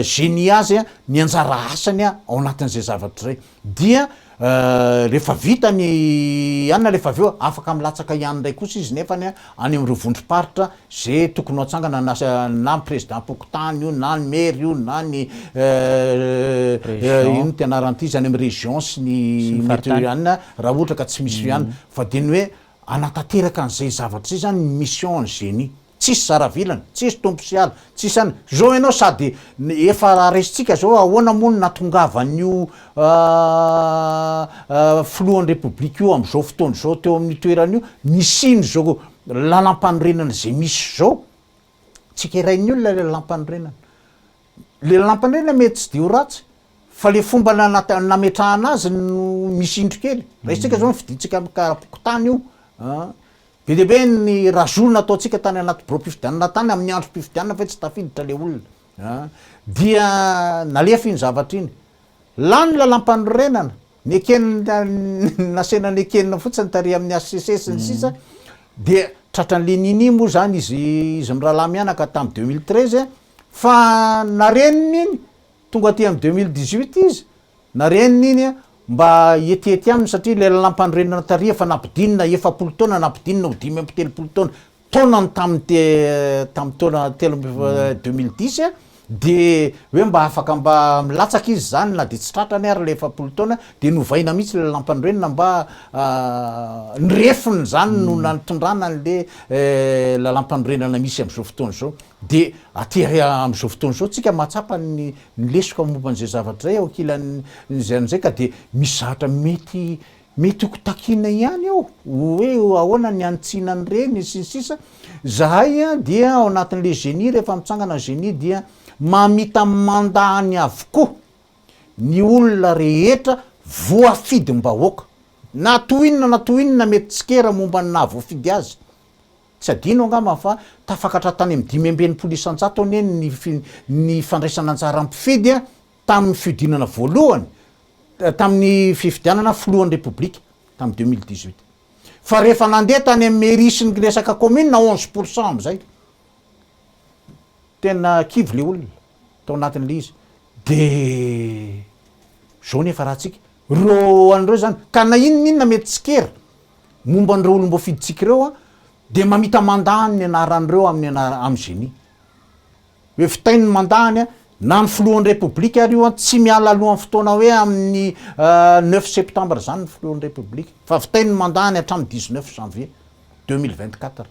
Speaker 2: geni azy ny anjara asany ao anatin'izay zavatra zay. Dia rehefa vita ny anona rehefa avy eo afaka milatsaka ihany indray kosa izy nefany any amin'ireo vondrom-paritra ze tokony ho atsangana na na ny prezidam-pokontany io na ny maire io na ny inona ity anarany ity izany amin'ny région sy ny anona raha ohatra ka tsy misy ihany fa dia ny hoe hanatanteraka an'izay zavatra izay izany ny mission ny Génie. Tsisy zara vilany, tsisy tompo sy ala, tsisy an, zao ianao sady efa resintsika zao ahoana moa no natongavan'io filohan'ny repoblika io amin'izao fotoana izao teo amin'io toerana io nisian'izao lalampanorenana izay misy zao, tsy kerain'ny olona le lalampanorenana, le lalampanorenana mety tsy de ho ratsy fa le fomba nanata- nametrahana azy no misy indro kely, raisintsika zao ny fidintsika amin'ny karapokontany io an, Be dia be ny razolo nataontsika tany anaty birao mpifidianana tany amin'ny andro mpifidianana ve tsy tafiditra ilay olona a! dia nalefa iny zavatra iny. Lany ny lalampanorenana, nekenina nasehina nekenina fotsiny tarehy amin'ny HCC sy ny sisa dia tratran'i Lenini moa izany izy izy mirahalahy mianaka tamin'ny deux mille treize fa narenina iny tonga aty amin'ny deux mille dix huit izy Na reniny iny mba hietiety aminy satria ilay lalampanorenana tary efa nampidinina efapolo taona nampidinina ho dimy amby telopolo taona taonany tamin'ny tamin'ny taona telo amby deux mille dix dia hoe mba afaka mba milatsaka izy izany na dia tsy tratrany ary ilay efapolo taona dia novaina mihitsy ilay lalampanorenana mba ny refiny izany no nantondrana an'ilay lalampanorenana misy amin'izao fotoana izao dia aty amin'izao fotoana izao tsika mahatsapa ny ny lesoka momba an'izay zavatra izay ao ankilan'izay an'izay ka dia misy zavatra mety mety ho kitakiana ihany ao hoe ahoana ny hanitsiana an'ireny sy ny sisa zahay dia ao anatin'ilay geni rehefa mitsangana geni dia mamita manda any avokoa ny olona rehetra voafidim-bahoaka na toy inona na toy inona mety tsikera momba ny nahavoafidy azy Tsy adino angamba fa tafakatra tany amin'ny dimy amby enimpolo isanjato anie ny ny fandraisana anjaran'ny mpifidy tamin'ny fihodinana voalohany, tamin'ny fifidianana filohan'ny Repoblika tamin'ny deux mille dix huit. Fa rehefa nandeha tany amin'ny mairie sy ny resaka kaominina, onze pour cent amin'izay, tena kivy ilay olona tao anatin'ilay izy. Dia izao nefa raha antsika. Ireo an'ireo izany, ka na inona inona mety tsikera momba an'ireo olom-boafidintsika ireo dia mamita mandany ny anaran'ireo amin'ny anara, amin'ny geni. Hoe vitainy ny mandany an, na ny filohan'ny Repoblika ary io an, tsy miala alohan'ny fotoana hoe amin'ny neuf septembre izany ny filohan'ny Repoblika, fa vitainy ny mandany hatramin'ny dix-neuf janvier deux mille vingt-quatre,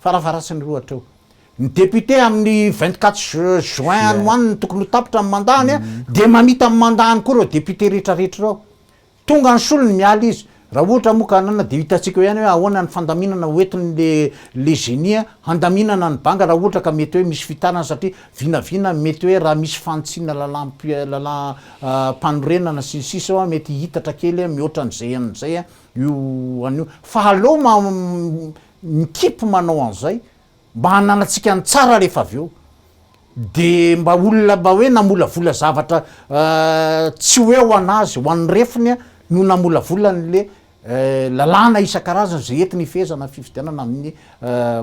Speaker 2: farafaharatsin'ireo hatreo. Ny député amin'ny vingt quatre juin any ho any no tokony ho tapitra ny mandat-ny a, dia mamita ny mandat-ny koa ireo député rehetrarehetra ireo. Tonga ny solony miala izy. Raha ohatra moa ka anana dia hitantsika eo ihany hoe ahoana ny fandaminana hoentiny le le génie handaminana ny banga raha ohatra ka mety hoe misy fitanana satria vinavina mety hoe raha misy fanitsiana lalam lalam panorenana sy ny sisa eo a mety hihitatra kely a mihoatra an'izay an'izay a io an'io. Fa aleo ma mikipy manao an'izay. Mba hananantsika ny tsara rehefa avy eo. Dia mba olona mba hoe namolavola zavatra tsy hoe ho an'azy, ho an'ny refiny no namolavola an'le lalàna isan-karazany izay entiny hifehezana ny fifidianana amin'ny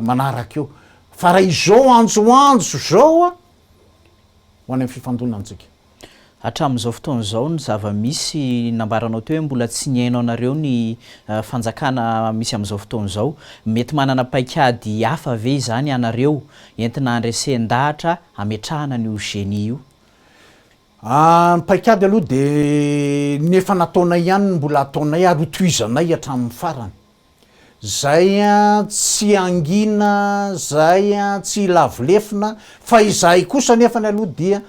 Speaker 2: manaraka eo. Fa raha izao anjoanjo izao, ho any amin'ny fifandonantsika. Hatramin'izao
Speaker 1: fotoana izao ny zava-misy nambaranao teo hoe mbola tsy nihaino anareo ny fanjakana misy amin'izao fotoana izao. Mety manana paikady hafa ve izany ianareo entina handresen-dahatra hametrahana an'io genie io? Ny paikady
Speaker 2: aloha dia ny efa nataonay ihany no mbola ataonay ary ho tohizanay hatramin'ny farany. Izay tsy hangina, izay tsy hilavo lefona fa izahay kosa anefany aloha dia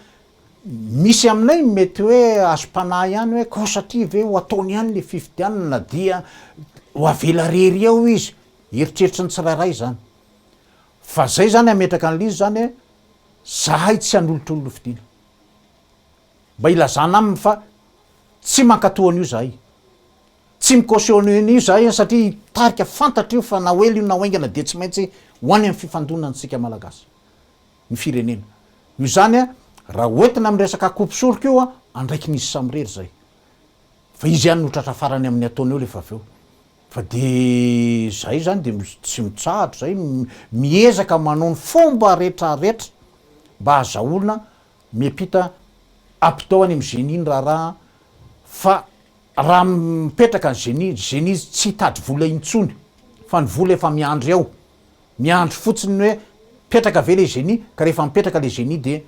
Speaker 2: Misy aminay ny mety hoe azom-panahy ihany hoe koa satria ve ho ataony ihany ilay fifidianana na dia ho avela rery eo izy. Eritreritry ny tsirairay izany. Fa izay izany hametraka an'ilay izy izany hoe izahay tsy hanolotra olona hofidiana. Mba ilazana aminy fa tsy mankatò an'io izahay. Tsy mi-cautionner an'io izahay satria hitarika, fantatra io fa na ho ela io na ho haingana dia tsy maintsy ho any amin'ny fifandonana antsika Malagasy. ny firenena. Noho izany, raha hoentina amin'ny resaka akoho soroka io, andraikin'izy samirery izay. Fa izy ihany no tratra farany amin'ny ataony eo rehefa avy eo. Fa dia izahay izany dia tsy mitsahatra, izahay miezaka manao ny fomba rehetrarehetra mba hahazahoana miampita apito any amin'ny Génie ny raharaha fa raha mipetraka ny Génie, Génie tsy hitady vola intsony fa ny vola efa miandry ao. Miandry fotsiny ny hoe mipetraka ve le zeni ka rehefa mipetraka le zeni de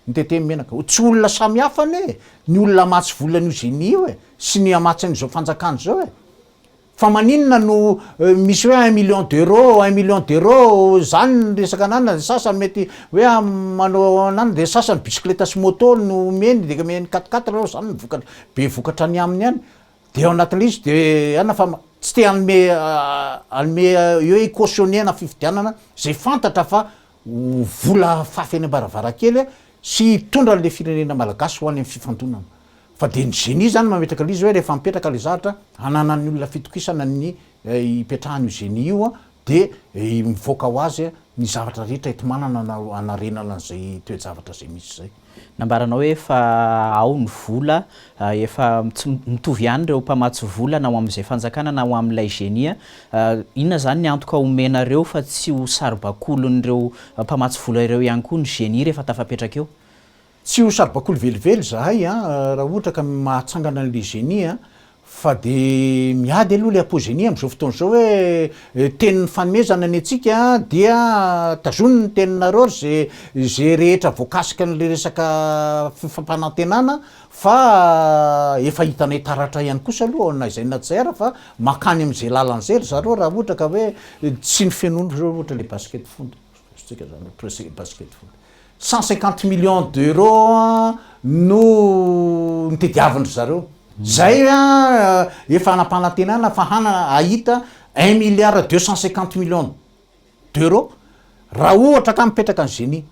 Speaker 2: mitete ny menaka. Tsy olona samy hafa anie e, ny olona hamatsy vola an'io zeni io e, sy ny hamatsy an'izao fanjakana izao e. Fa maninona no misy hoe un million d'euro, un million d'euro, zany ny resaka ananana, ny sasany mety hoe manao ananana, de ny sasany bicyclette sy moto no omeny, de omeny quatre quatre, zany ny vokatra, be vokatra any aminy any. Dia ao anatin'ilay izy dia anona fa tsy te hanome hanome hoe hi-cautionner ana fifidianana izay fantatra fa ho vola fafy any ambaravarankely sy hitondra an'ilay firenena malagasy ho any amin'ny fifandonana. Fa dia ny Zeni izany mametraka an'ilay izy hoe rehefa mipetraka ilay zavatra hananan'ny olona fitokisana ny hipetrahany io Zeni io, Dia mivoaka ho azy ny zavatra rehetra eto manana na hanarenana an'izay toe-javatra izay misy izay. Nambaranao hoe efa
Speaker 1: ao ny vola, efa tsy mitovy ihany ireo mpamatsy vola na ho amin'izay fanjakana na ho amin'ilay genia. Inona izany ny antoka omenareo fa tsy ho saribakolin'ireo mpamatsy vola ireo ihany koa ny genia rehefa tafapetraka eo? Tsy ho saribakoly
Speaker 2: velively izahay an, raha ohatra ka mahatsangana an'ilay génie an, fa dia miady aloha ilay apogénie amin'izao fotoana izao hoe tenin'ny fanomezana ny antsika dia tazono ny teninareo ry ze izay rehetra voakasika an'ilay resaka fifampanantenana fa efa hitanay taratra ihany kosa aloha na izay na tsy izay ary fa mankany amin'izay lalana izay ry zareo raha ohatra ka hoe tsy ny fenona ohatra ilay basket foot, azontsika izany hoe presque basket foot. Cent cinquante millions d'euros no nitediavin-dry zareo. Izay efa anam-panantenana fa hahita un milliard deux cent cinquante millions d'euros raha ohatra ka mipetraka ny Génie.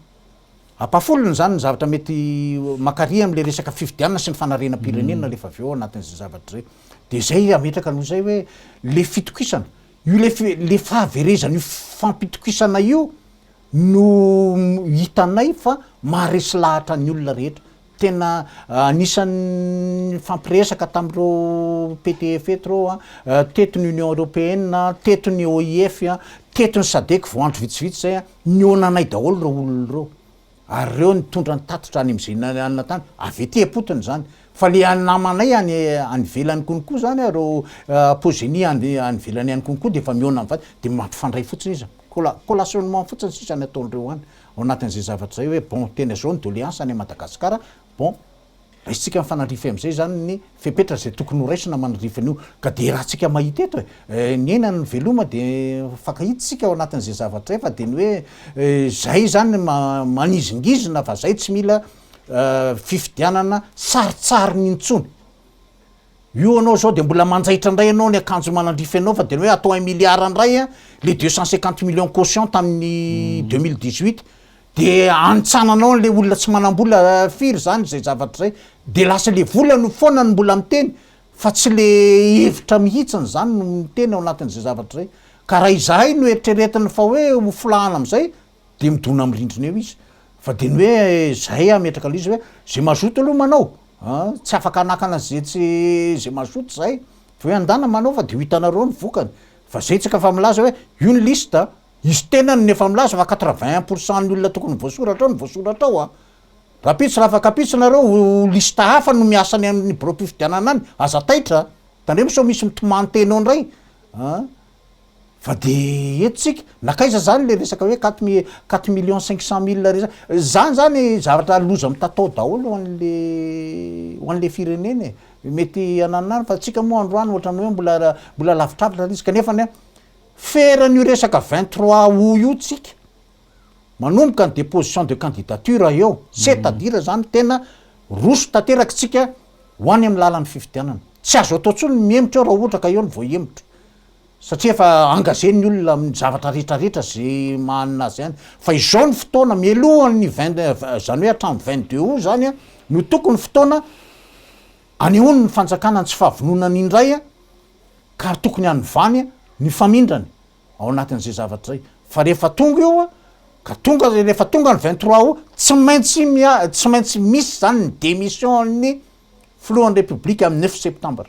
Speaker 2: Ampahafolony izany ny zavatra mety mankary amin'ilay resaka fifidianana sy ny fanarenam-pirenena rehefa avy eo ao anatin'izay zavatra izay. Dia izay hametraka anao izay hoe ilay fitokisana, io ilay ilay fahaverezan'io fampitokisana io, no hitanay fa maharesy lahatra ny olona rehetra, tena anisan'ny nifampiresaka tamin'ireo PTF eto ireo an, teto ny Union Européenne an, teto ny OIF an, teto ny Sadec vao andro vitsivitsy izay an, nihaona anay daholo ireo olona ireo, ary ireo nitondra ny tatitra any amin'izay nianana tany, avy ety am-potony izany, fa ilay namanay any any ivelany konokoa izany an, ireo Pogenia any ivelany any konokoa dia efa mihaona amin'ny vadiny, dia mampifandray fotsiny izy an. Colla collationnement fotsiny sisa ny ataondreo any ao anatin'izay zavatra zay hoe bon tena zao ny doleance any Madagascar bon raisitsika mifanandrify amizay zany ny fepetra zay tokony ho raisina manandrify an'io ka de ratsika mahita eto e ny aina ny veloma de mifankahita sika ao anatin'izay zavatra zay fa de ny hoe zay zany manizingizina fa zay tsy mila fifidianana sarotsarony intsony. Io anao zao de mbola manjaitra ndray anao ny akanjo manandrify anao fa de ny hoe atao un milliard ndray a le deux cent cinquante millions caution tamin'ny deux mille dix huit de anintsananao anle olona tsy manambola firy zany zay zavatra zay de lasa le vola no foana no mbola miteny fa tsy le hevitra mihitsiny zany no miteny ao anatin'izay zavatra zay ka raha izahay no eritreretina fa hoe ho filahana amizay Dia midona amin'ny rindrina eo izy. Fa dia ny hoe izay hametraka an'ilay izy hoe izay mazoto aloha manao a! tsy afaka hanakana izay tsy, izay mazoto izay fa hoe andana manao fa dia ho hitanareo ny vokany. Fa izay tsika efa milaza hoe io ny liste a! izy tenany no efa milaza fa quatre vingt un pour cent ny olona tokony ho voasoratra ao no voasoratra ao a! Rahampitso raha fankapitso nareo ho liste hafa no miasa any amin'ny biraom-pifidianana any, aza taitra a! Tandremo sao misy mitomany teny ao indray a! Fa dia eto isika, nankaiza izany ilay resaka hoe quatre mi- quatre millions cinq cent mille resa-, izany izany zavatra loza mitatao daholo ho an'ilay ho an'ilay firenena e! mety hananona any fa antsika moa androany ohatran'ny hoe mbola ra-, mbola lavitravitra ilay izy, kanefany an, feran'io resaka vingt trois aout io tsika, manomboka ny deposition de candidature eo, c'est à dire zany tena roso tanteraka isika ho any amin'ny lalan'ny fifidianana. Tsy azo atao intsony ny mihemotra eo raha ohatra ka eo ny voahemotra satria efa engagé ny olona amin'ny zavatra rehetra rehetra ze mahanina azy any. Fa izao ny fotoana mialohan'ny vingt izany hoe hatramin'ny vingt deux aout zany no tokony fotoana anehoany ny fanjakana ny tsy fahavononany indray ka tokony hanovany ny famindrany. ao anatin'izay zavatra izay fa rehefa tonga io ka tonga rehefa tonga ny vingt trois aout tsy maintsy mia tsy maintsy misy izany ny démission an'ny filohan'ny république amin'ny neuf septembre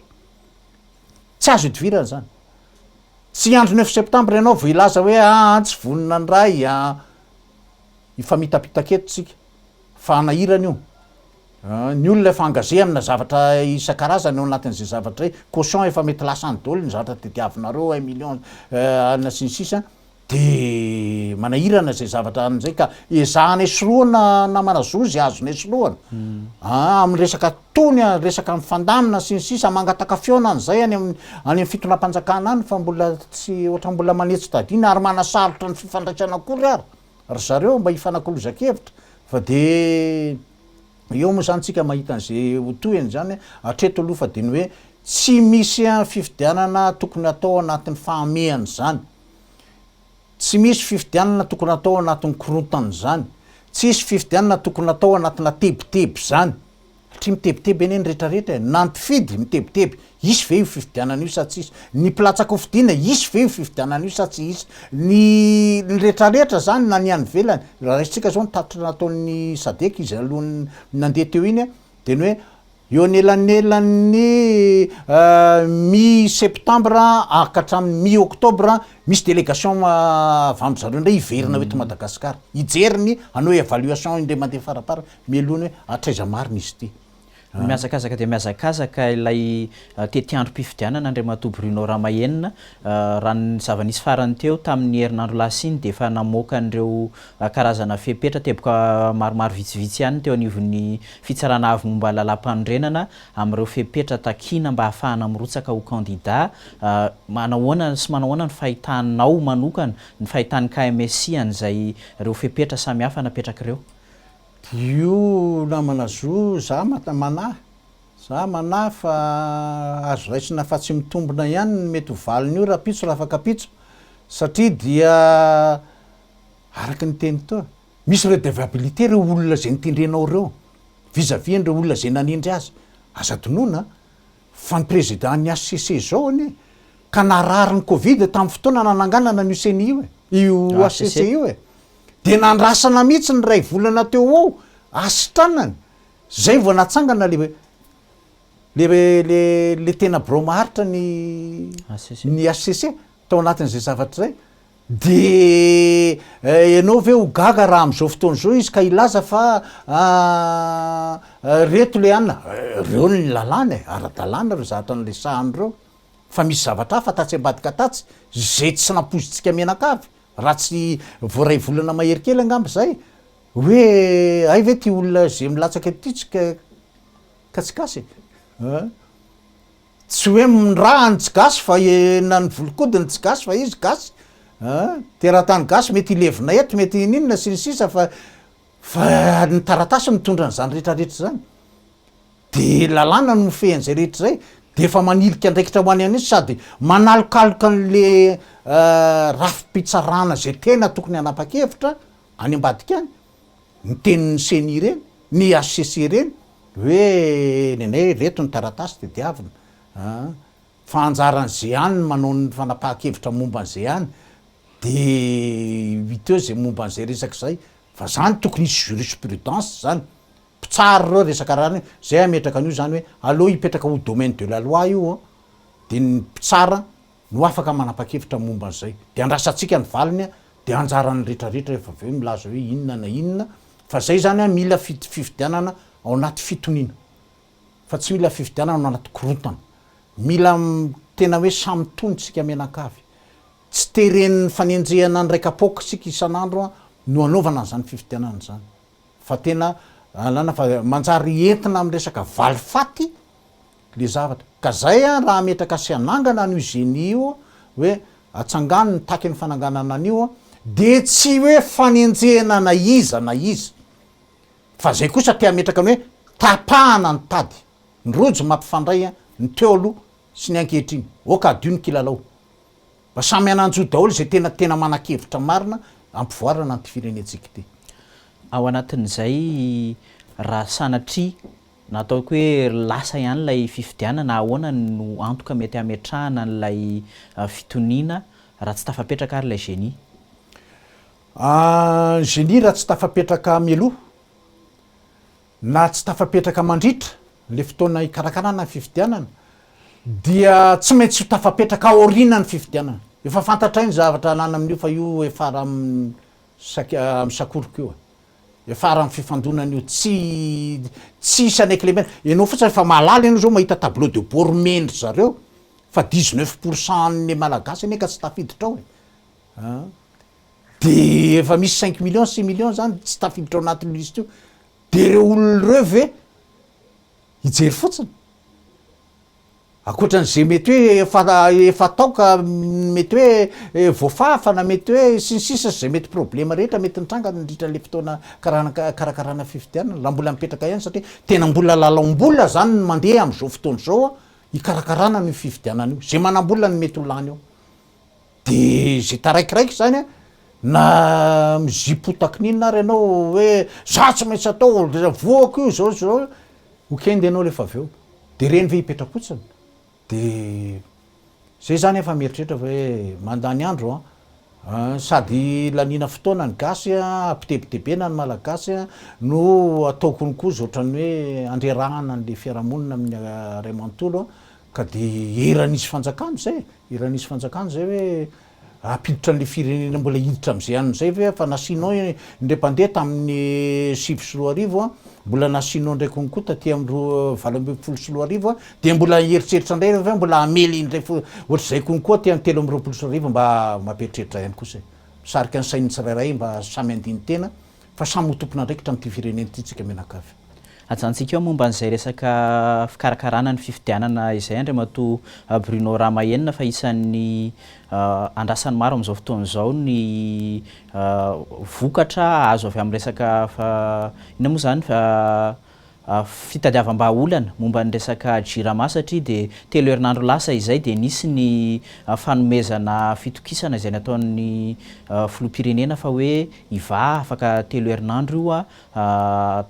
Speaker 2: tsy azo idivirana izany tsy hiandry neuf septembre ianao vao hilaza hoe aa ah, tsy vonona ny ray a ah. hifamitapitaka eto tsika fa hanahirana io Ny olona efa engagé amina zavatra isan-karazany ao anatin'izay zavatra izay, caution efa mety lasa any daholo ny zavatra tadiavinareo, un million ana sy ny sisa, dia manahirana izay zavatra any amin'izay ka ezahana esorohana namana zo izay azonao esorohana aa amin'ny resaka tony a, resaka mifandamina sy ny sisa, mangataka fihaonana izay any amin'ny any amin'ny fitondram-panjakana any fa mbola tsy ohatran'ny mbola manetsi-tadiana ary manasarotra ny fifandraisana akory ary. Ry zareo mba hifanakolozan-kevitra fa dia eo moa izany tsika mahita an'izay ho tohiny izany a! Hatreto aloha fa dia ny hoe tsy misy fifidianana tokony hatao anatin'ny fahamehana izany, tsy misy fifidianana tokony hatao anatin'ny korontana izany, tsisy fifidianana tokony hatao anatina tebiteby izany. Hatria mitebiteby anie ny rehetra rehetra e! Na mpifidy mitebiteby, hisy ve io fifidianana io sa tsy hisy? Ny mpilatsaka ho fidiana, hisy ve io fifidianana io sa tsy hisy? Ny ny rehetra rehetra zany na ny any ivelany, raha raisintsika zao ny tatitra nataon'ny sadec izy alohan'ny nandeha teo iny a, de ny hoe eo anelanelan'ny mi septembre a ka hatramin'ny mi octobre misy délégation avy amizareo indray hiverina eto Madagascar hijery ny hanao evaluation indray mandeha faraparany Mialoha ny hoe hatraiza marina izy ity. Mihazakazaka dia
Speaker 1: mihazakazaka ilay tetiandrom-pifidianana Andriamatoa Bruno Ramahenina. Raha ny zava-nisy farany teo tamin'ny herinandro lasa iny dia efa namoaka an'ireo karazana fepetra teboka maromaro vitsivitsy ihany ny teo anivon'ny Fitsarana Avo momba Lalàmpanorenana amin'ireo fepetra takiana mba hahafahana mirotsaka ho kandida. Manahoana sy manahoana ny fahitanao manokana, ny fahitan'ny KMSI an'izay ireo fepetra samihafa napetrak'ireo? Io
Speaker 2: namana zo za manahy, za manahy fa azo raisina fa tsy mitombina ihany ny mety ho valin'io rahampitso raha afaka ampitso satria dia araka ny teny teo misy redevabilite ireo olona izay notendrenao ireo vis à vis an'ireo olona izay nanendry azy, aza adinoina a! Fa ny président ny HCC zao anie ka narary ny covid tamin'ny fotoana nananganana an'io ceni io e, io HCC io e, dia nandrasana mihitsy ny iray volana teo ho eo hasitranany, zay vao natsangana le le le le tena birao maharitra ny ny HCC tao anatin'izay zavatra zay, Dia ianao ve ho gaga raha amin'izao fotoana izao izy ka hilaza fa reto ilay anona? Ireo ny lalàna e, ara-dalàna ireo zavatra niresahany ireo. Fa misy zavatra hafa tatsy ambadika tatsy izay tsy nampoizintsika mianakavy, raha tsy vao iray volana mahery kely angamba izay, hoe hay ve ity olona izay milatsaka ity tsy kasikasy e? Tsy hoe mndraha ny tsy gasy fa na ny volokodiny tsy gasy fa izy gasy an! Teratany gasy mety hilevina eto mety hininona sy ny sisa fa fa ny taratasy mitondra an'izany rehetra rehetra izany de lalàna no mifehy an'izay rehetra izay de efa manilika andraikitra ho any an'izy sady manalokaloka an'le rafi-pitsarana izay tena tokony hanapa-kevitra any ambadika any ny tenin'ny ceni ireny, ny hcc ireny, hoe nenay ireto ny taratasy tediavina an, fa anjaran'ny zean ny manao ny fanapahan-kevitra momba ny zean, de huit eo zay momba an'izay resaka izay, fa zany tokony hisy jurisprudence zany, mpitsara ireo resaka raha ny zay hametraka an'io zany hoe aleo hipetraka ho domaine de la loi io an, de ny mpitsara no afaka manapa-kevitra momba an'izay. Dia andrasantsika ny valiny, dia anjaran'ny retraretra efa avy eo milaza hoe inona na inona, fa izay izany mila fifidianana ao anaty fitoniana, fa tsy mila fifidianana ao anaty korontana. Mila tena hoe samy tony isika mianankavy. Tsy teren'ny fanenjehana ny raika-poaka isika isan'andro no anaovana an'izany fifidianana izany, fa tena alana fa manjary entina amin'ny resaka valifaty, le zavatra. Ka zay an raha hametraka sy hanangana an'io Génie io hoe atsangano ny takin'ny fananganana an'io de tsy hoe fanenjehana na iza na iza fa zay kosa te hametraka ny hoe tapahana ny tady ny rojo mampifandray an ny teo aloha sy ny ankehitriny ok adio ny kilalao mba samy hananjo daholo zay tena tena manakevitra marina hampivoarana an'ity firenentsika ity. Ao
Speaker 1: anatin'izay raha sanatria. Na ataoko hoe lasa ihany ilay fifidianana, ahoana no antoka mety hametrahana an'ilay fitoniana raha tsy tafapetraka ary ilay génie?
Speaker 2: Ny génie raha tsy tafapetraka mialoha na tsy tafapetraka mandritra ilay fotoana hikarakarana ny fifidianana dia tsy maintsy ho tafapetraka aorianan'ny fifidianana. Efa fantatray ny zavatra halana amin'io fa io efa ara-misakoroko io e! Hiafara amin'ny fifandonana io tsy tsy hisy an'Eclemena. Ianao fotsiny efa mahalala ianao zao mahita tableau de bord omen-dry zareo fa dix neuf pour cent an'ny Malagasy anie ka tsy tafiditra ao e! an! de efa misy cinq millions, six millions zany tsy tafiditra ao anatin'io liste io, de reo olona reo ve hijery fotsiny? Ankoatran'izay mety hoe efa efa tao ka mety hoe voafafa na mety hoe sy ny sisa sy izay mety problema rehetra mety nitranga nandritra an'ilay fotoana karakarana fifidianana raha mbola mipetraka ihany satria tena mbola lalaom-bola izany no mandeha amin'izao fotoana izao hikarakarana an'io fifidianana io, izay manam-bola no mety ho lany ao. De ze taraikiraiky zany a, na mizipotaky n'inona ary ianao hoe za tsy maintsy atao, voako io zao sy zao, ho kendy ianao rehefa avy eo, de reny ve hipetra-potsiny? De zay zany efa mieritreritra fa hoe mandany andro an! sady laniana fotoana ny gasy an, ampitebitebena ny malagasy an, no atao konokoza ohatran'ny hoe handrerahana an'le fiarahamonina amin'ny ray manontolo an, ka de eran'izy fanjakana zay e! I Ranisy Fanjakana izay hoe hampiditra an'ilay firenena mbola hiditra amin'izay anona izay ve fa nasianao indray mpandeha tamin'ny sivy sy roa arivo mbola nasianao indray konko taty amin'ny roa valo ambin'ny folo sy roa arivo dia mbola hieritreritra indray ianareo ve mbola hamely indray ohatr'izay konko aty amin'ny telo amby roapolo sy roa arivo mba mampieritreritra ihany kosa e. Misarika ny sain'ny tsirairay mba samy handini-tena Fa samy ho tompon'andraikitra amin'ity firenena ity tsika mianakavy. Ajanontsika eo
Speaker 1: momba an'izay resaka fikarakarana ny fifidianana izay Andriamatoa Bruno Ramahenina fa isan'ny andrasan'ny maro amin'izao fotoana izao ny vokatra azo avy amin'ny resaka inona moa izany? fitadiavam-bahaolana momba ny resaka Jirama satria dia telo herinandro lasa izay dia nisy ny fanomezana fitokisana izay nataon'ny filoham-pirenena fa hoe hivaha afaka telo herinandro io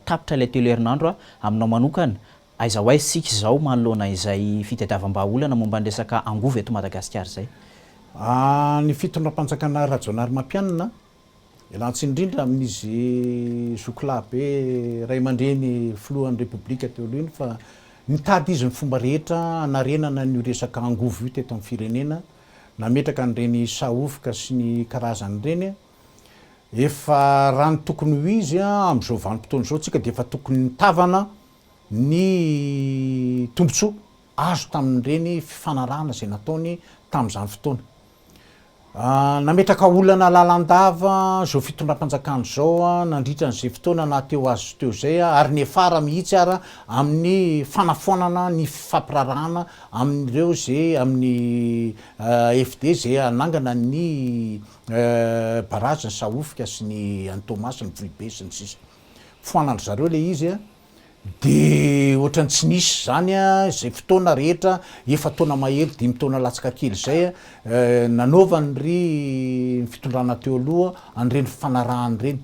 Speaker 1: tapitra ilay telo herinandro aminao manokana aiza ho aiza isika izao manoloana izay fitadiavam-bahaolana momba ny resaka angovo eto Madagasikara izay?
Speaker 2: Ny fitondram-panjakana Rajaonarimampianina Ialàn-tsiny indrindra amin'izy zokilahy be ray aman-dreny filohan'ny Repoblika teo aloha iny fa nitady izy ny fomba rehetra hanarenana an'io resaka angovo io teto amin'ny firenena, nametraka an'ireny sahovoka sy ny karazany ireny. Efa raha ny tokony ho izy amin'izao vanim-potoana izao, tsika dia efa tokony nitavana ny tombontsoa azo tamin'ireny fifanarahana izay nataony tamin'izany fotoana. Nametraka olana lalandava izao fitondram-panjakana izao nandritra an'izay fotoana nahateo azy teo izay ary niafara mihitsy ara amin'ny fanafoanana ny fifampiraharahana amin'ireo izay amin'ny AFD izay hanangana ny Barazin'i Sahofika sy ny an'i Toamasina, Vohibe sy ny sisa. Foanan-dry zareo ilay izy. Dia ohatrany tsy nisy izany izay fotoana rehetra, efa-taona mahery dimy taona latsaka kely izay, nanaovan'ny ry ny fitondrana teo aloha an'ireny fifanarahana ireny.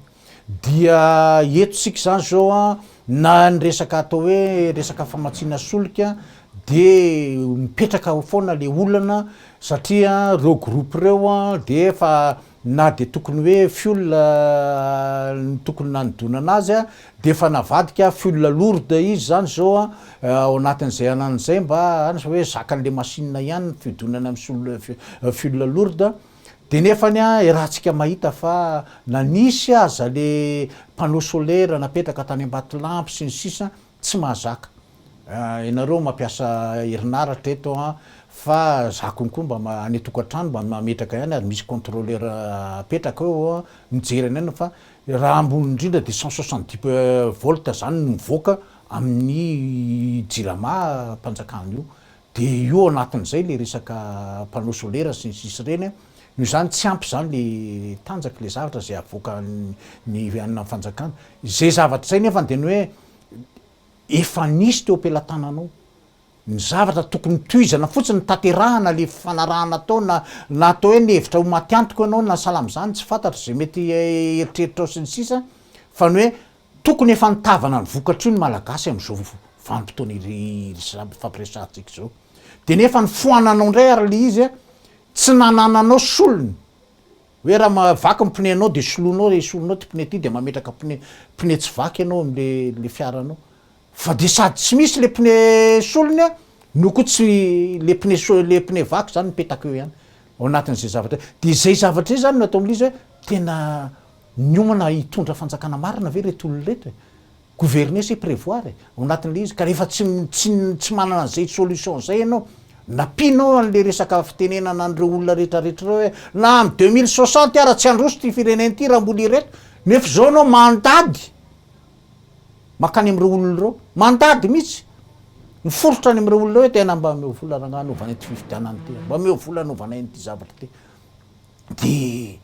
Speaker 2: Dia eto isika izany izao an, na ny resaka atao hoe resaka famatsiana solika dia mipetraka ao foana ilay olana satria ireo groupe ireo dia efa na dia tokony hoe fiola no tokony nanodonana azy dia efa navadika fiola lourde izy izany izao ao anatin'izay anana izay mba hanasa hoe zakan'ilay machine ihany ny fiodonana amin'ny fiola lourde dia nefany iarahantsika mahita fa na nisy aza ilay panneau solaire napetraka tany Ambatolampy sy ny sisa Tsy mahazaka. Ianareo mampiasa herinaratra eto an, fa za konko mba any an-tokantrano mba mametraka ihany ary misy controleur apetraka eo an, mijery anay ianao fa raha ambony indrindra dia cent soixante dix volts izany no mivoaka amin'ny jirama mpanjakana io. Dia io ao anatin'izay ilay resaka panneau solaire sy ny sisa ireny an, noho izany tsy ampy izany ilay tanjaka, ilay zavatra izay havoakan'ny anona fanjakana. Izay zavatra izay nefany dia ny hoe efa nisy teo am-pelatananao. Ny zavatra tokony tohizana fotsiny ny tanterahana ilay fanarahana atao na na atao hoe nihevitra ho maty antoko ianao na sahala amin'izany tsy fantatro izay mety eritreritrao sy ny sisa fa ny hoe Tokony efa nitavana ny vokatr'io ny Malagasy amin'izao vanim-potoana ifampiresahantsika izao. Dia nefa nifoananao indray ary ilay izy an! Tsy nanananao solony. Hoe raha vaky ny pneu anao dia soloinao, esorinao ity pneu ity dia mametraka pneu pneu tsy vaky ianao amin'ilay fiaranao. Fa dia sady tsy misy ilay pneu solony an! no koa tsy ilay pneu so-, ilay pneu vaky izany mipetaka eo ihany ao anatin'izay zavatra. Dia izay zavatra izay izany no ataon'ilay izy hoe tena. Niomana hitondra fanjakana marina ve ireto olona ireto e? Gouverner c'est prévoir e, ao anatin'ilay izy ka rehefa tsy tsy tsy manana an'izay solution izay ianao, nampianao an'ilay resaka fitenenana an'ireo olona rehetra rehetra ireo hoe na any deux mille soixante ara tsy handroso ity firenena ity raha mbola ireto, nefa izao ianao mandady mankany amin'ireo olona ireo, mandady mihitsy, miforitra any amin'ireo olona hoe tena mba omeo vola rangahy hanaovana ity fifidianana ity, mba omeo vola hanaovana an'ity zavatra ity, dia.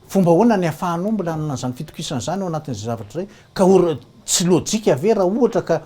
Speaker 2: Fomba ahoana ny ahafahanao mbola hanana izany fitokisana izany ao anatin'izay zavatra izay? Ka or, tsy lojika ve raha ohatra ka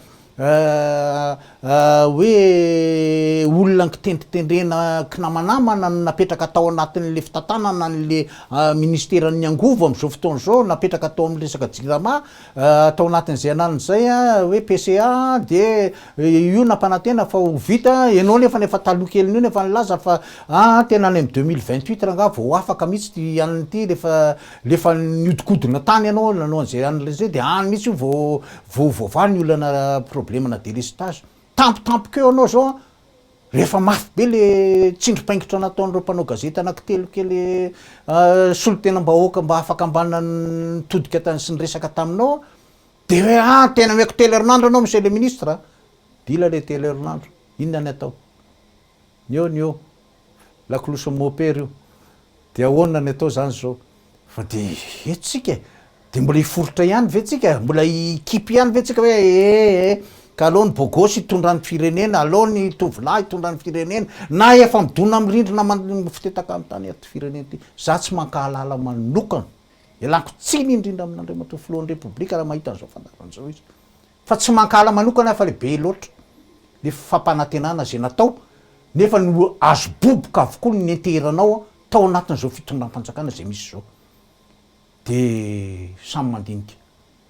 Speaker 2: hoe olona nikitendritendrena kinamanamana no napetraka tao anatin'ilay fitantanana an'ilay ministeran'ny angovo amin'izao fotoana izao, napetraka tao amin'ny resaka jirama, tao anatin'izay ananiny izay hoe PCA dia io nampanantena fa ho vita, ianao nefany efa taloha kelin'io no efa nilaza fa aa tena any amin'ny deux mille vingt huit rangaha vao afaka mihitsy ity anona ity rehefa rehefa niodikodina tany ianao nanao an'izay anona izay dia any mihitsy io vao vao voavaha ny olana probleme-na delestage, tampotampoka eo ianao izao an! Rehefa mafy be le tsindrim-paingitra nataon'ireo mpanao gazety anankitelo kely solontenam-bahoaka mba hahafakambanana ny todika tany sy ny resaka taminao dia hoe ah tena omeko telo herinandro ianao monsieur le ministre a! Dila ilay telo herinandro, inona ny atao? Ny eo ny eo, lakolosy mopera io. De ahoana ny atao zany zao? Fa de eto tsika e! De mbola hiforitra ihany ve tsika? Mbola hikipy ihany ve tsika hoe ee ka aleo ny bôgôsy hitondra ny firenena, aleo ny tovolahy hitondra ny firenena, na efa midona amin'ny rindrina mifotetaka ny tany ity firenena ity. Za tsy mankahalala manokana, ialako tsiny indrindra amin'Andriamatoa Filohan'ny Repoblika raha mahita an'izao fandaharan'izao izy. Fa tsy mankahala manokana aho fa le be loatra le fampanantenana zay natao nefa ny ho azo boboka avokoa ny nenteheranao tao anatin'izao fitondram-panjakana zay misy zao. De samy mandinika.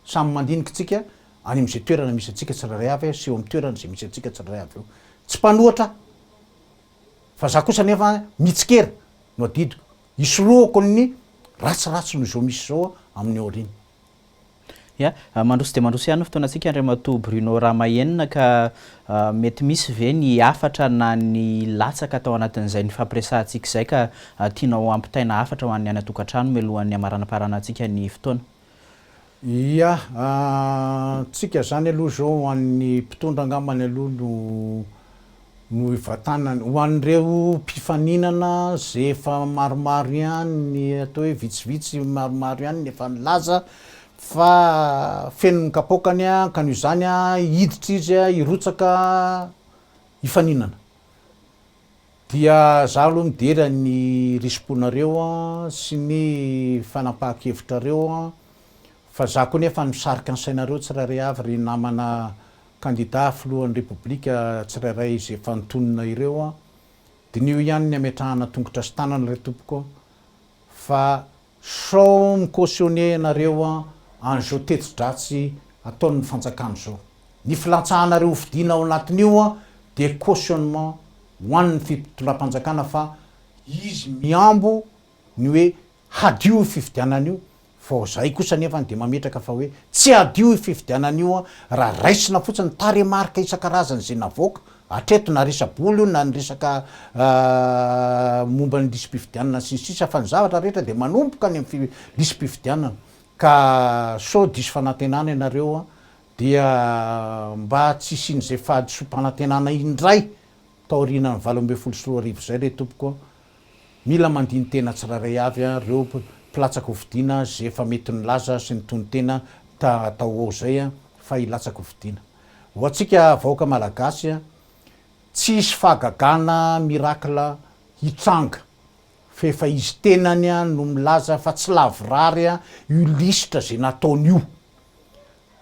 Speaker 2: Samy mandinika tsika any am'izay toerana misy antsika tsirairay avy sy eo am toerana zay misy antsika tsirairay avy eo. Tsy mpanohatra aho fa za kosa nefa mitsikera no adidiko hisorohako ny ratsiratsy noho izao misy zao amin'ny aoriana. Ya, mandroso
Speaker 1: dia mandroso ihany ny fotoanantsika Andriamatoa Bruno Ramahenina ka mety misy ve ny hafatra na ny latsaka tao anatin'izay nifampiresahantsika izay ka tianao hampitaina hafatra ho an'ny any an-tokantrano mialohan'ny hamaranaparanantsika ny fotoana? Ya,
Speaker 2: tsika izany aloha izao ho an'ny mpitondra angambany aloha no no hivatanany. Ho an'ireo mpifaninana izay efa maromaro ihany ny atao hoe vitsivitsy maromaro ihany ny efa nilaza fa feno ny kapaokany ka noho izany hiditra izy hirotsaka hifaninana. Dia izaho aloha midera ny risi-ponareo sy ny fanapahan-kevitrareo fa izaho koa anefa misarika ny sainareo tsirairay avy ry namana kandidà filohan'ny Repoblika tsirairay izay efa nitonona ireo an! Diniho ihany ny hametrahana tongotra sy tanana re tompoko fa sao mi-cautionner ianareo an'izao teti-dratsy ataon'ny fanjakana izao. Ny filantsahanareo hofidiana ao anatin'io dia cautionnement ho an'ny fitondram-panjakana fa izy mihambo ny hoe hadio io fifidianana io fa ao zahay kosa anefa dia mametraka fa hoe tsy hadio io fifidianana io raha raisina fotsiny ny tarehimarika isan-karazany izay navoaka hatreto na resa-bola io na ny resaka momba ny lisi-pifidianana sy ny sisa fa ny zavatra rehetra dia manomboka any amin'ny lisi-pifidianana ka sao diso fanantenana ianareo dia mba tsy hisian'izay fahadisoam-panantenana indray taorianan'ny valo ambin'ny folo sy roa arivo izay re tompoko a! Mila mandini-tena tsirairay avy ireo mpilatsaka hofidiana izay efa mety nilaza sy nitonon-tena ta hatao ho ao izay fa hilatsaka hofidiana. Ho antsika vahoaka Malagasy, tsy hisy fahagagana miracle hitranga fa efa izy tenany no milaza fa tsy lavorary io lisitra izay nataony io.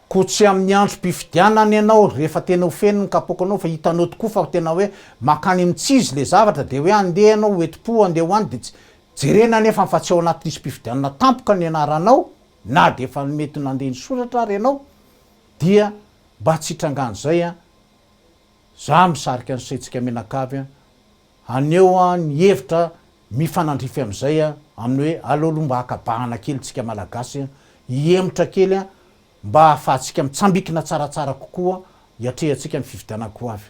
Speaker 2: Koa tsy amin'ny androm-pifidianana ianao rehefa tena ho feno ny kapoakanao fa hitanao tokoa fa tena hoe mankany amin'ny tsy izy ilay zavatra dia hoe andeha ianao ho enti-po handeha ho any dia tsy jerena anefa fa tsy ao anaty lisi-pifidianana tampoka ny anaranao na dia efa mety nandeha nisoratra ary ianao dia mba tsy hitrangan'izay an! Za misarika an'i Setsika Menakavy an! Haneho ny hevitra mifanandrify amin'izay amin'ny hoe aleo aloha mba haka bahana kely tsika Malagasy hihemotra kely mba hahafahantsika mitsambikina tsaratsara kokoa hiatrehantsika ny fifidianana ho avy.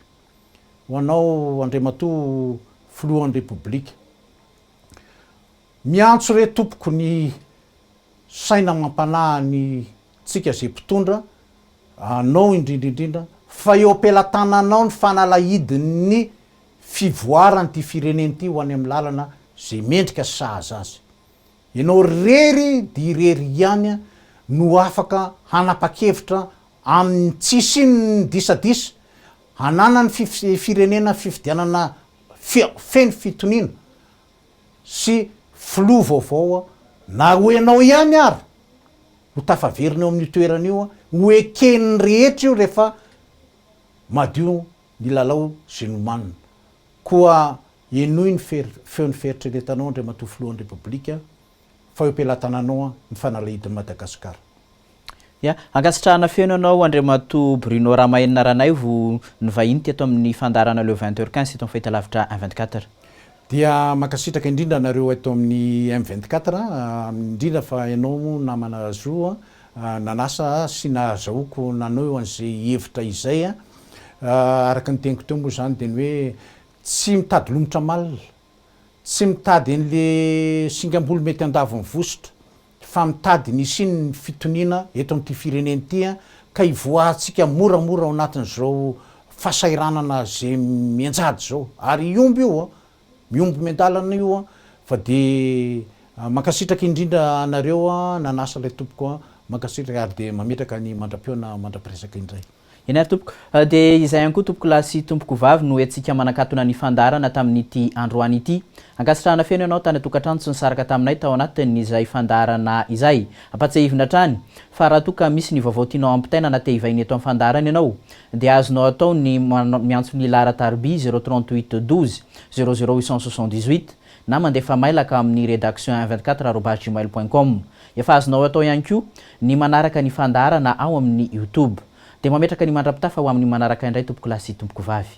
Speaker 2: Ho anao Andriamatoa Filohan'ny Repoblika, miantso re tompoko ny saina amam-panahy ny tsika izay mpitondra, anao indrindra indrindra fa eo am-pelatananao ny fanalahidin'ny fivoaran ity firenena ity ho any amin'ny lalana izay mendrika sy sahaza azy. Ianao irery dia irery ihany no afaka hanapa-kevitra amin'ny tsy hisian'ny disadisa, hananan'ny firenena fifidianana feno fitoniana sy filoha vaovao na ho ianao ihany ary ho tafaverina eo amin'io toerana io, ho eken'ny rehetra io rehefa madio ny lalao sy nomanina. Koa henoy ny feon'ny fieritreretanao Andriamatoa Filohan'ny Repoblika fa eo am-pelatananao ny fanalahidin'i Madagasikara. Ya,
Speaker 1: ankasitrahana feno anao Andriamatoa Bruno Ramahenina Ranaivo nivahiny teto amin'ny fandaharana Le Vingt Heures Quinze teto amin'ny fahitalavitra M vingt quatre. Dia
Speaker 2: mankasitraka indrindra anareo eto amin'ny M vingt quatre, indrindra fa ianao namana Zo Nanasa ahy sy nahazahoako nanao an'izay hevitra izay. Araka ny teniko teo moa izany dia ny hoe tsy mitady lomotra malina, tsy mitady an'ilay singam-bolo mety handavo ny vositra fa mitady ny hisian'ny fitoniana eto amin'ity firenena ity ka hivoahantsika moramora ao anatin'izao fahasahiranana izay mianjady izao. Ary hihombo io Mihombo miandalana io an! Fa de mankasitraka indrindra anareo nanasa ilay tompoko an! Mankasitraka ary de mametraka ny mandra-pihaona mandra-piresaka indray. Eny ary tompoko.
Speaker 1: De izay ihany koa tompokolahy sy tompokovavy no hetsika manakatona ny fandaharana tamin'ity androany ity. Ankasitrahana feno ianao tany an-tokantrano sy nisaraka taminay tao anatin'izay fandaharana izay. Ampatsiahivina hatrany. Fa raha toa ka misy ny vaovao tianao hampitaina na te hivaina eto amin'ny fandaharana ianao dia azonao atao ny miantso ny Lara Tarbiy 038 12 00878 na mandefa mailaka amin'ny redaction un vingt quatre arobase gmail point com. Efa azonao atao ihany koa ny manaraka ny fandaharana ao amin'ny youtube. Dia mametraka ny mandra-pitafa ho amin'ny manaraka indray tompokolahy sy tompokovavy.